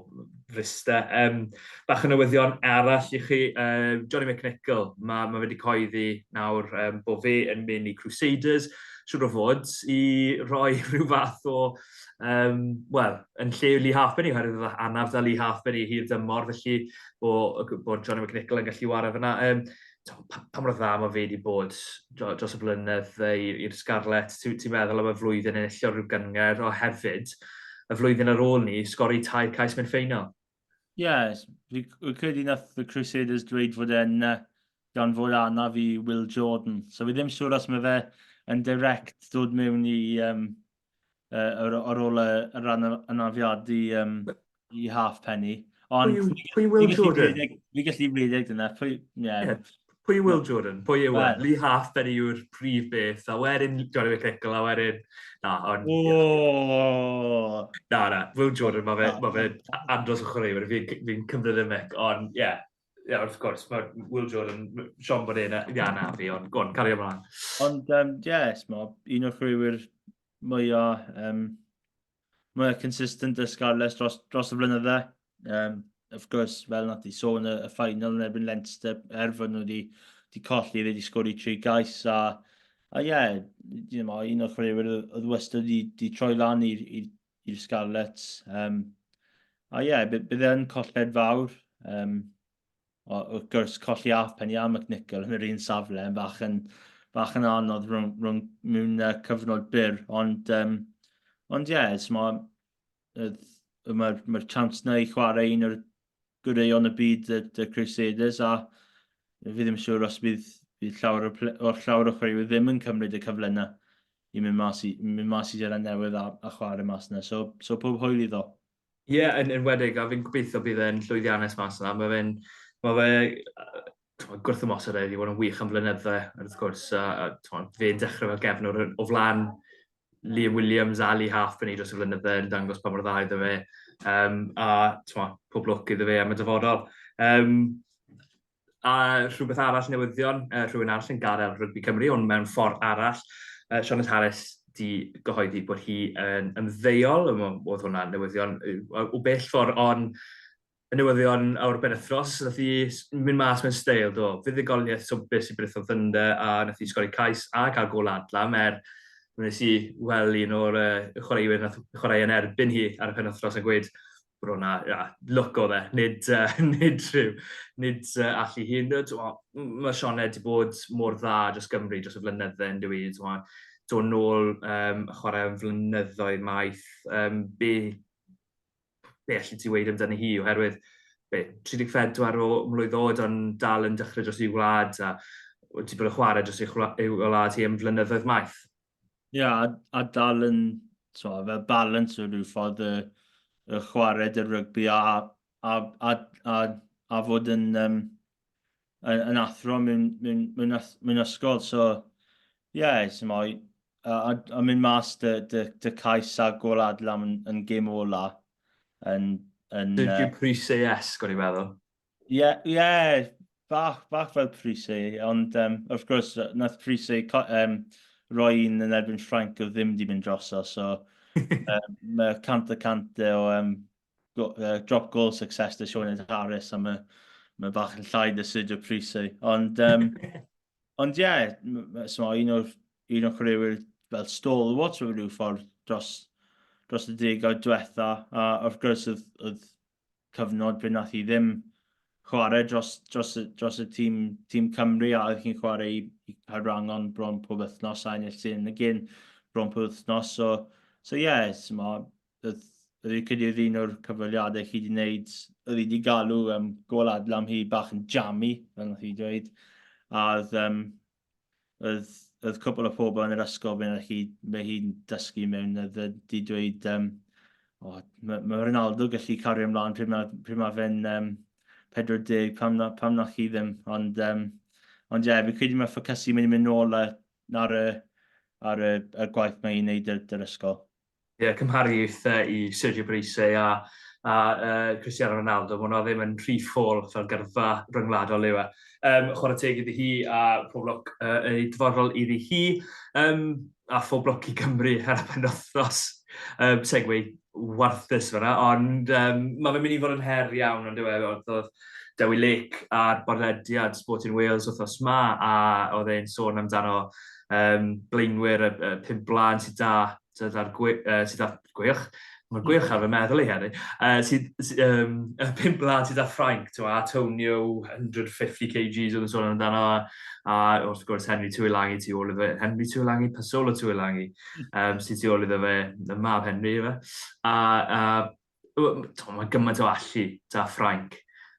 frista. Um, bach o newyddion arall i chi, um, Johnny McNichol, mae, mae wedi coeddi nawr um, bod fe yn mynd i Crusaders, siwr o fod, i roi rhyw fath o, um, wel, yn lle Lee Harpenny, oherwydd anaf da Lee Harpenny hir dymor, felly o, bod Johnny McNichol yn gallu wario fyna. Um, pa, pa mor dda mae fe wedi bod dros y flynedd i'r Scarlets? Ti'n ti meddwl am y flwyddyn yn illio rhyw gyngor o hefyd? Y flwyddyn ar ôl ni, sgori tair cais mewn ffeinal. Ie, yeah, fi credu nath y Crusaders dweud fod e'n uh, gan fod anaf i Will Jordan. So fi ddim siŵr os mae fe yn direct dod mewn i um, ar ôl y rhan anafiadu um, i half penny. Ond pwy, pwy Will Jordan? Fi gallu rhedeg dyna. Pwy, yeah. yeah. Pwy Will Jordan? Pwy yw e? Lee Half, ben yw'r prif beth. A wedyn Johnny McNichol, a wedyn... Na, ond... Oh. Na, na. Will Jordan, mae fe, ma fe andros o chwaraewyr. Fi'n fi cymryd y mic, ond ie. Yeah. ie, wrth gwrs, mae Will Jordan, Sean Bonet, na, ia, na fi, ond gwn, cario mlaen. Ond, ie, um, yes, mae un o'r chwaraewyr mwyaf, um, mwyaf consistent y Scarlets dros, dros y flynydde. Um, of gwrs, fel nad i sôn y, y ffainal yn erbyn Leinster, er fod nhw wedi di colli, wedi sgori tri gais, a, a ie, yeah, you know, un o'r chwaraewyr oedd wastad wedi troi lan i'r i'r Scarlets. Um, a ie, yeah, bydd e yn colled fawr. Um, o, wrth gwrs, colli af pen i am y cnicol yn yr un safle, yn fach yn, fach yn anodd rhwng, rhwng mewn uh, cyfnod byr. Ond, um, ond ie, yeah, mae'r ma, ma, ma chance na i chwarae un o'r gwreion y byd, y, y Crusaders, a fi ddim yn siŵr os bydd, bydd llawer o, o llawer o chwaraewyr ddim yn cymryd y cyfle yna i mynd mas i, mynd mas i Zeland Newydd a, a chwarae mas yna. So, so pob hwyl iddo. Ie, yeah, yn enwedig, a fi'n gobeithio bydd e'n llwyddiannus mas yna. Mae fe'n... Mae fe... t'mod gwrthymosod e, wedi bod yn wych am flynydde, wrth gwrs, a, a t'mod, fe'n dechrau fel gefnwr o flan Liam Williams a Lee Half yn ei dros y flynydde yn dangos pa mor dda iddo fe, um, a t'mod, pob lwc iddo fe am y dyfodol. Um, a rhywbeth arall newyddion, uh, rhywun arall yn gadael rygbi Cymru, ond mewn ffordd arall, uh, Sioned Harris di gyhoeddi bod hi yn ymddeol, oedd hwnna newyddion o bell ffordd, ond Y newyddion o'r benwythnos, wnaeth hi mynd mas mewn steil, do. Fuddugoliaeth swmpus i Britho Thunder a wnaeth hi sgori cais a cael gôl adlam er mi wnes i weld un o'r uh, chwaraewyr wnaeth chwarae yn erbyn hi ar y penwythnos a gweud bod o'na ia, lwc o fe, nid, uh, nid rhyw, nid uh, allu hi. Mae Sioned wedi bod mor dda dros Gymru dros y flynydde yn dwi, do nôl um, chwarae am flynyddoedd maith, um, be be allet ti weud amdani hi oherwydd be, 34 o mlwydd oed ond dal yn dechrau dros ei wlad a wedi bod yn chwarae dros ei, chwla, ei wlad hi am flynyddoedd maith. Ie, yeah, a, a dal yn, so, fel balans o rhyw ffordd y, y chwarae dy rygbi a, a, a, a, a fod yn um, yn, yn athro mewn, mewn, mewn, mewn ysgol. So, ie, yeah, sy'n moi. A, a, a mynd mas dy, dy, dy cais a gol adlam yn, yn gym ola. Yn, yn, Dwi'n uh, prysau esg, o'n i'n meddwl. Ie, yeah, ie, yeah, bach, bach fel prysau, ond um, wrth gwrs, nath prysau um, roi un yn erbyn Ffranc o ddim di mynd droso, so um, mae cant a cant o um, go, uh, drop goal success dy Sionet Harris a mae ma bach yn llai dy Sergio Prisi. Ond, um, ond ie, yeah, so, un o'r un o'r chwaraewyr fel stalwart o rhyw ffordd dros, dros y degawd diwetha. A wrth gwrs, oedd, oedd cyfnod pryd nath i ddim chwarae dros, dros, dros y tîm, tîm Cymru a oedd chi'n chwarae i, i Caerwrangon bron pob wythnos a ennill sy'n y gyn bron pob wythnos. So, so ie, yeah, Fi'n credu oedd un o'r cyfweliadau chi 'di wneud, oedd hi 'di galw yym gôl Adlam hi bach yn jammy, fel wnaeth hi dweud, a oedd yym oedd oedd cwpl o pobl yn yr ysgol fe wnaeth hi mae hi'n dysgu mewn oedd yy 'di dweud yym o ma' ma' Ronaldo gallu cario ymlaen pryd ma' pryd ma' fe'n yym 40 pam na pam nath hi ddim ond yym ond ie fi'n credu ma' ffocysu mynd i mynd nôl ar ar y ar y y gwaith mae hi'n wneud yr yr ysgol. Ie, cymharu eitha i Sergio Parisse a a yy Cristiano Ronaldo, ma' 'wnna ddim yn rhy ffôl fel gyrfa ryngwladol yw e. Yym chware teg iddi hi a pob lwc yy yn ei dyfodol iddi hi. Yym a phob lwc i Gymru ar y penwythnos. Yym segue warthus fanna ond yym ma' fe'n myn' i fod yn her iawn on'd yw e? O'dd o'dd Dewi Lake ar bodlediad Sporting Wales wthnos 'ma a o'dd e'n sôn amdano um, blaenwyr y, y pum blaen sydd da, sydd ar gwych, uh, sydd ar gwych, mae'r gwych hmm. ar fy meddwl i hefyd, uh, sydd, um, y pum blaen sydd ar Ffrainc, ti'n a Tonio, 150 kgs oedd yn sôn amdano, a wrth gwrs Henry Twylangi tu ôl iddo fe, Henry Twylangi, Pasolo Twylangi, um, sydd tu ôl iddo fe, y mab Henry, fe. A, a mae gymaint o allu da Ffrainc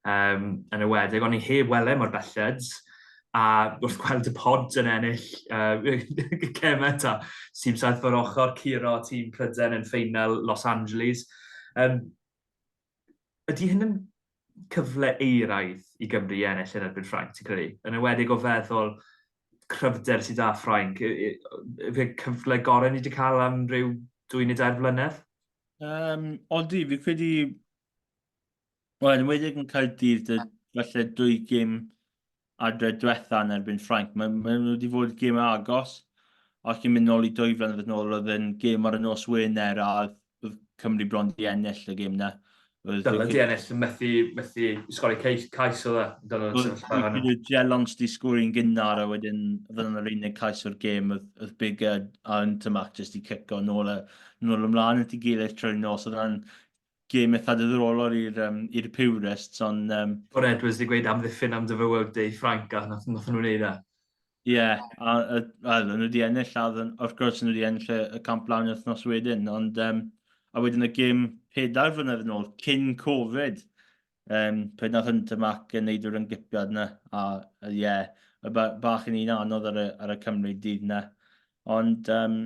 um, yn y wedeg, ond ni heb wele mor belled, a wrth gweld y pod yn ennill uh, cemau ta, tîm saith fawr ochr, Ciro, tîm Pryden yn ffeinal Los Angeles. Um, ydy hyn yn cyfle eiraidd i Gymru i ennill yn erbyn Ffrainc, ti'n credu? Yn ywedig o feddwl cryfder sydd â Ffrainc, fe cyfle gorau ni wedi cael am rhyw dwy neu dair flynedd? Yym, odi, fi credu... Wel, yn enwedig yn Caerdydd, y- falle dwy gêm adre diwetha yn erbyn Ffrainc. Mae ma' nhw wedi fod yn gêm agos. Os ni'n mynd nôl i dwy flynedd yn ôl, oedd yn gêm ar y nos Wener a oedd oedd Cymru bron 'di ennill y gêm 'na. Dylan di ennill, methu, methu sgori cais, cais oedd e. Dylan yn sefyll pa hynny. Bydd Dylan sti sgori'n gynnar a wedyn fydd yna'r unig cais o'r gêm oedd Big a Intermac jyst i cico nôl, a, nôl ymlaen at i gilydd trwy'r nos. Oedd yna'n gêm eitha dydrolol i'r um, i'r purists, ond... Um... O'r Edwards di gweud amddiffyn am dyfywod Dave Frank a nath, nath nhw'n neud e. Ie, yeah, a, a, a nhw wedi ennill, a wrth gwrs nhw wedi ennill y, y camp lawn wythnos wedyn, ond um, a wedyn y gym pedair flynedd yn ôl, cyn Covid, um, pryd nath Hunter Mac yn neud yr ymgypiad yna, a ie, yeah, bach yn un anodd ar y, ar y Cymru dydd yna. Ond, um,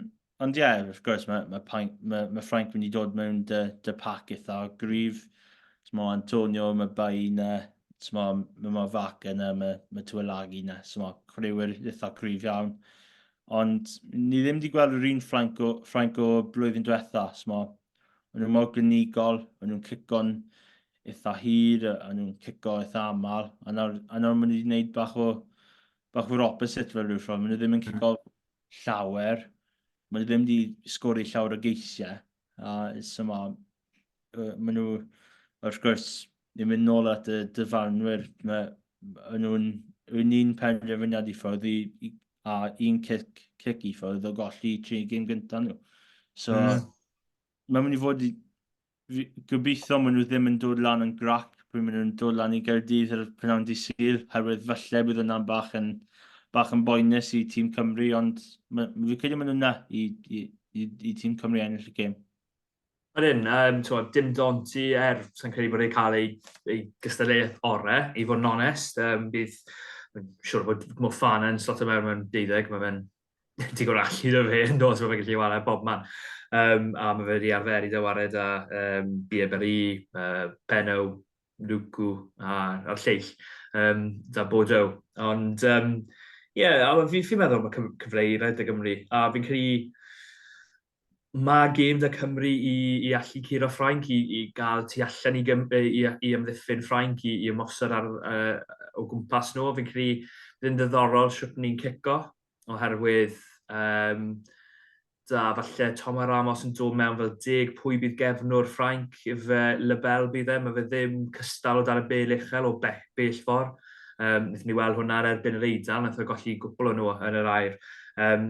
Ond ie, yeah, wrth gwrs, mae, mae, Paink, mae, mae Ffrainc wedi dod mewn dy, dy pac eitha o gryf. Smo Antonio, mae Bai yna, smo, mae ma Fac yna, mae, mae Tuelagi yna, smo chwaraewyr eitha cryf iawn. Ond ni ddim wedi gweld yr un Ffrainc o, Ffrainc o blwyddyn diwetha, smo, o'n nhw mor gynigol, o'n nhw'n cico'n eitha hir, o'n nhw'n cico eitha aml, a nawr, a nawr maen nhw wedi gwneud bach o, bach o'r opposite fel rhyw ffordd, maen nhw ddim yn cico mm. llawer. Mae nhw ddim wedi sgori llawer o geisiau. A so ma, uh, maen nhw, wrth gwrs, yn mynd nôl at y dyfarnwyr. Mae nhw'n un un penderfyniad i ffwrdd i, i, a un cic, cic i ffwrdd o golli tri gym gyntaf nhw. So, mm. mae'n mynd i fod gobeithio maen nhw ddim yn dod lan yn grac pryd maen nhw'n dod lan i Gaerdydd ar y prynawn di sydd, herwydd falle bydd yna'n bach yn, bach yn boenus i tîm Cymru, ond fi'n credu maen nhw'n na i, i, i, i tîm Cymru ennill y gêm. Yr un, um, twa, dim dont i er, sy'n credu bod ei cael ei, ei gystadleuaeth ore, i fod yn onest. Um, bydd, siwr bod Mo Fana yn slot o mewn mewn deuddeg, mae fe'n digon o allu da fe yn dos, mae fe'n gallu chwarae bob man. Um, a mae fe wedi arfer i ddywared a um, Bieberli, uh, Benno, Luku a'r lleill, um, da Bodo. Ond, um, ie, yeah, fi'n fi meddwl mae cyfle i rhaid y Gymru, a fi'n credu mae gêm da Cymru i, i allu curo Ffrainc, i, i gael tu allan i, gym, i, i ymddiffyn Ffrainc, i, i ymosod ar, uh, o gwmpas nhw. Fi'n credu bydd yn ddiddorol sut ni'n cico, oherwydd um, da, falle Tom a Ramos yn dod mewn fel deg pwy bydd gefnwr Ffrainc, fe Lebel bydd e, mae fe ddim cystal o dan y bel uchel o bell, bell ffordd. Um, Nethon ni weld hwnna ar erbyn yr Eidal, nath o golli gwpl o nhw yn yr air. Um,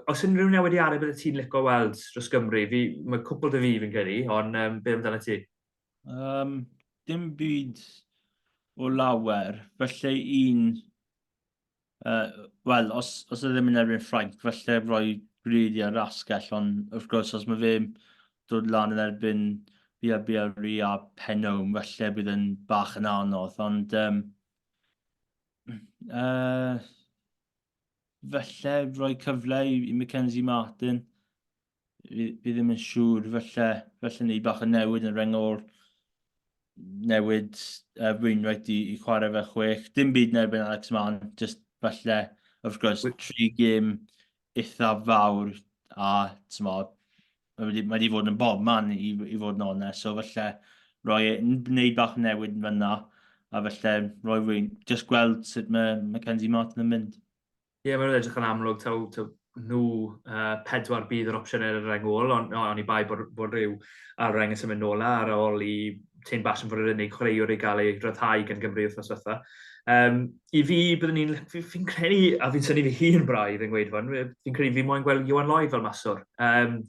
os unrhyw newidiadau bydde ti'n licio weld dros Gymru? Fi, mae cwpl dy fi fi'n credu, ond um, beth amdano ti? Um, dim byd o lawer, felly un... Uh, Wel, os, os ydym e yn erbyn Ffrainc, felly roi gwneud i'r asgell, ond wrth gwrs, os mae fe dod lan yn erbyn Bia Biarri a Penwm, felly bydd yn bach yn anodd, ond... Um, uh, falle rhoi cyfle i, i Mackenzie Martin. Fi, fi ddim yn siŵr, falle, falle ni bach yn newid yn rengol newid uh, Wainwright i, i chwarae fe chwech. Dim byd nerbyn Alex Mann, just falle, wrth gwrs, With... tri gym eithaf fawr a, ti'n modd, Mae wedi, mae wedi fod yn bob man i, i fod yn onest, so felly roi e, wneud bach newid yn fyna, a felly roi rwy'n just gweld sut mae Mackenzie Martin yn mynd. Ie, yeah, mae'n edrych yn amlwg taw, taw nhw uh, pedwar bydd yr opsiwn ar y reng ôl, ond no, on i bai bod, bod rhyw ar reng yn symud nôl ar ôl i Tyn Bas yn fod yr unig chwaraewr i gael ei ryddhau gan Gymru wythnos fatha. Um, i fi, byddwn ni'n... Fi'n fi credu, a fi'n syni fi hun braidd yn gweud fan, fi'n credu fi moyn gweld Iwan Lloyd fel maswr. Um,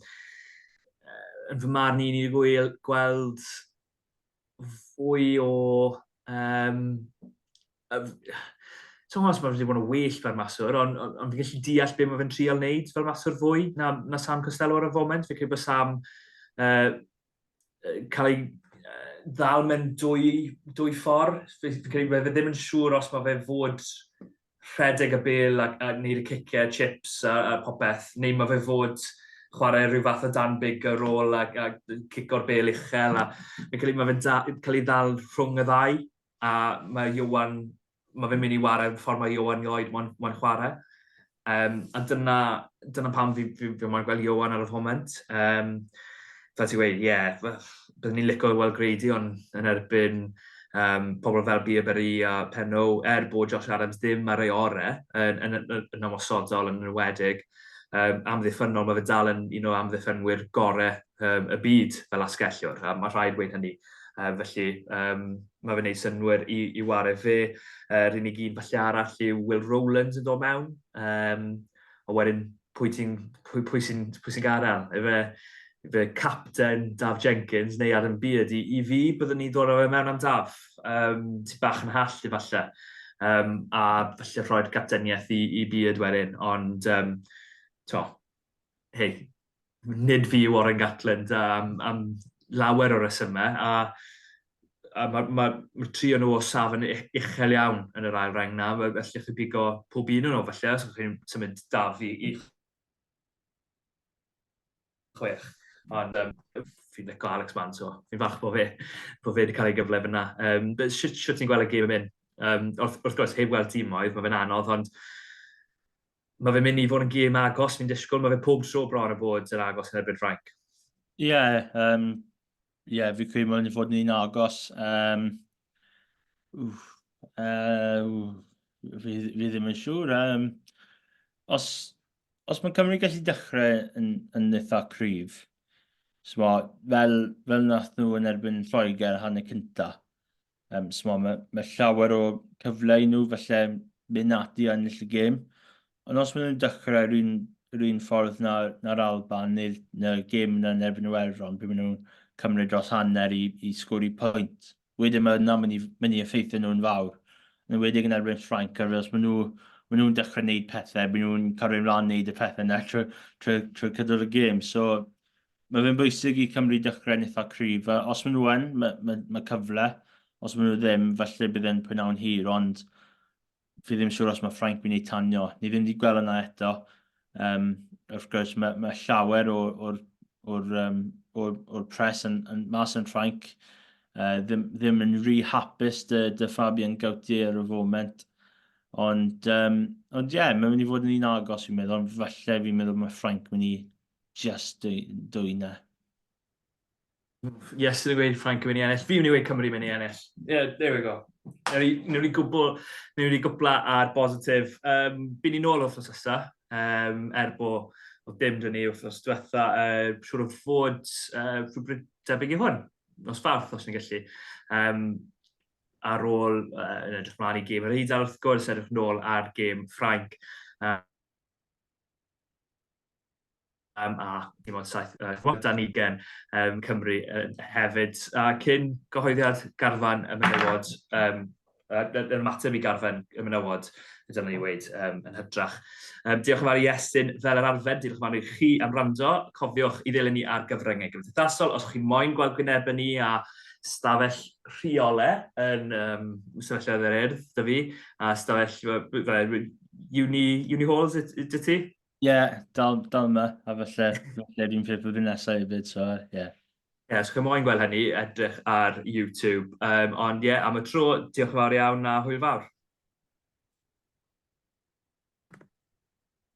yn fy marn i, ni wedi gweld fwy o... Um, Ti'n os mae wedi bod yn well fel maswr, ond on, on, fi'n gallu deall beth mae fe'n trial wneud fel maswr fwy na, na Sam Costello ar y foment. Fi'n credu bod Sam uh, cael ei ddal mewn dwy, dwy ffordd. Fe ddim yn siŵr os mae fe fod rhedeg y bel a, a wneud y ciciau, chips a, a popeth, neu mae fe fod chwarae rhyw fath o dan big ar ôl a, a cico'r bel uchel. A, mae cael ei, mae fe'n cael ei ddal rhwng y ddau a mae Iwan mae fe'n mynd i ware'r ffordd mae Ioan Lloyd mo'n mo chwarae. Um, a dyna, dyna pam fi, fi, fi mo'n gweld Ioan ar y foment. Um, fel ti'n gweud, ie, yeah, byddwn ni'n licio weld Grady ond yn erbyn um, pobl fel Bierberry a Penno, er bod Josh Adams ddim ar ei ore yn, yn, yn, yn ymosodol yn enwedig, um, amddiffynnol, mae fe dal yn un o amddiffynwyr gorau um, y byd fel asgellwr, a mae rhaid dweud hynny. Uh, felly, um, mae fe'n gwneud synwyr i, i wario fe. Uh, Rhyn i gyn falle arall yw Will Rowlands yn dod mewn. Um, a wedyn, pwy, ti'n, pwy, pwy sy'n sy gadael? Efe, fe capten Daf Jenkins neu Adam Beard. I, i fi, byddwn ni'n dod o fe mewn am Daf. Um, ti bach yn hall, efallai. Um, a falle rhoi'r capteniaeth i, i Beard wedyn. Ond, um, to, hei, nid fi yw Oren Gatland am, am lawer o resymau, a, a mae ma, ma tri o'n nhw o safon uchel iawn yn yr ail reng na, felly chi bigo pob un o'n nhw, felly, os chi'n symud daf i, i chwech. Ond um, fi'n licio Alex Mann, so fi'n falch bod fe, bod fe wedi cael ei gyfle fyna. Um, Sut ti'n gweld y gêm yn mynd? Um, wrth, wrth gwrs, heb weld tîmoedd, mae fe'n anodd, ond Mae fe'n mynd i fod yn gêm agos, fi'n disgwyl. Mae fe pob tro bron o bod yn agos yn erbyn Ffrainc. Ie, yeah, um, yeah, fi credu mae'n fod yn un agos. Um, uh, fi, fi ddim yn siŵr. Um, os, os mae Cymru gallu dechrau yn, yn eitha cryf, so, fel, fel nath nhw yn erbyn Lloegr hanner cynta, Um, so mae, mae llawer o cyfle i nhw falle mynd ati i ennill y gêm. Ond os maen nhw'n dechrau yr un, yr un ffordd na'r na Alban neu'r na gêm yna yn erbyn Iwerddon, pe maen nhw'n cymryd dros hanner i, i sgwri pwynt, wedyn mae yna mynd i, mynd i effeithio nhw'n fawr. Yn wedi yn erbyn Ffrainc, ar os maen nhw maen nhw'n dechrau gwneud pethau, maen nhw'n cario ymlaen wneud y pethau yna trwy, trwy, trwy cydol y gêm. So, mae fe'n bwysig i Cymru dechrau'n eitha cryf. A os maen nhw yn, mae, mae, mae cyfle. Os maen nhw ddim, falle bydd e'n pwynawn hir, ond fi ddim siŵr os mae Ffrainc mynd i tanio. Ni ddim wedi gweld yna eto. Um, wrth gwrs, mae, mae llawer o'r, or, or, um, or, or pres yn, yn mas yn Ffrainc. Uh, ddim, ddim yn rhy hapus dy, dy Fabian Gautier ar y foment. Ond, um, ond ie, yeah, mae'n mynd i fod yn un agos, fi'n meddwl. Falle fi'n meddwl mae Ffrainc mynd i just dwy na. Yes, sydd yn gweud Frank yn mynd i ennill. Fi'n mynd i weid Cymru yn mynd i ennill. Yeah, there we go. Neu ni gwbl, neu ni gwbla ar bositif. Um, Byn ni'n ôl wrth ysa, um, er bo o dim dyn ni wrth diwetha. Uh, siwr o fod uh, rhywbryd debyg i hwn, nos farth os ni'n gallu. Um, ar ôl, uh, yn edrych mlaen i gêm yr Eidal wrth gwrs, edrych nôl ar gêm Ffrainc. Uh, um, a dim ond saith, uh, dan ugen um, Cymru uh, hefyd. A cyn gyhoeddiad garfan y menywod, um, yr ymateb i garfan y menywod, dyna ni wedi um, yn hydrach. Um, diolch yn fawr i Estyn fel yr arfer, diolch yn fawr i chi am rando. Cofiwch i ddilyn ni ar gyfryngau gymdeithasol os chi'n moyn gweld gwynebau ni a stafell rheole yn um, sefyllfaoedd yr urdd, dy fi, a stafell, uni, uni halls, dy ti? Ie, yeah, dal, dal yma, a falle, falle dwi'n ffeir blwyddyn nesaf hefyd, so ie. Yeah. Ie, yeah, os chi'n moyn gweld hynny, edrych ar YouTube. Um, ond ie, yeah, am y tro, diolch yn fawr iawn a hwyl fawr.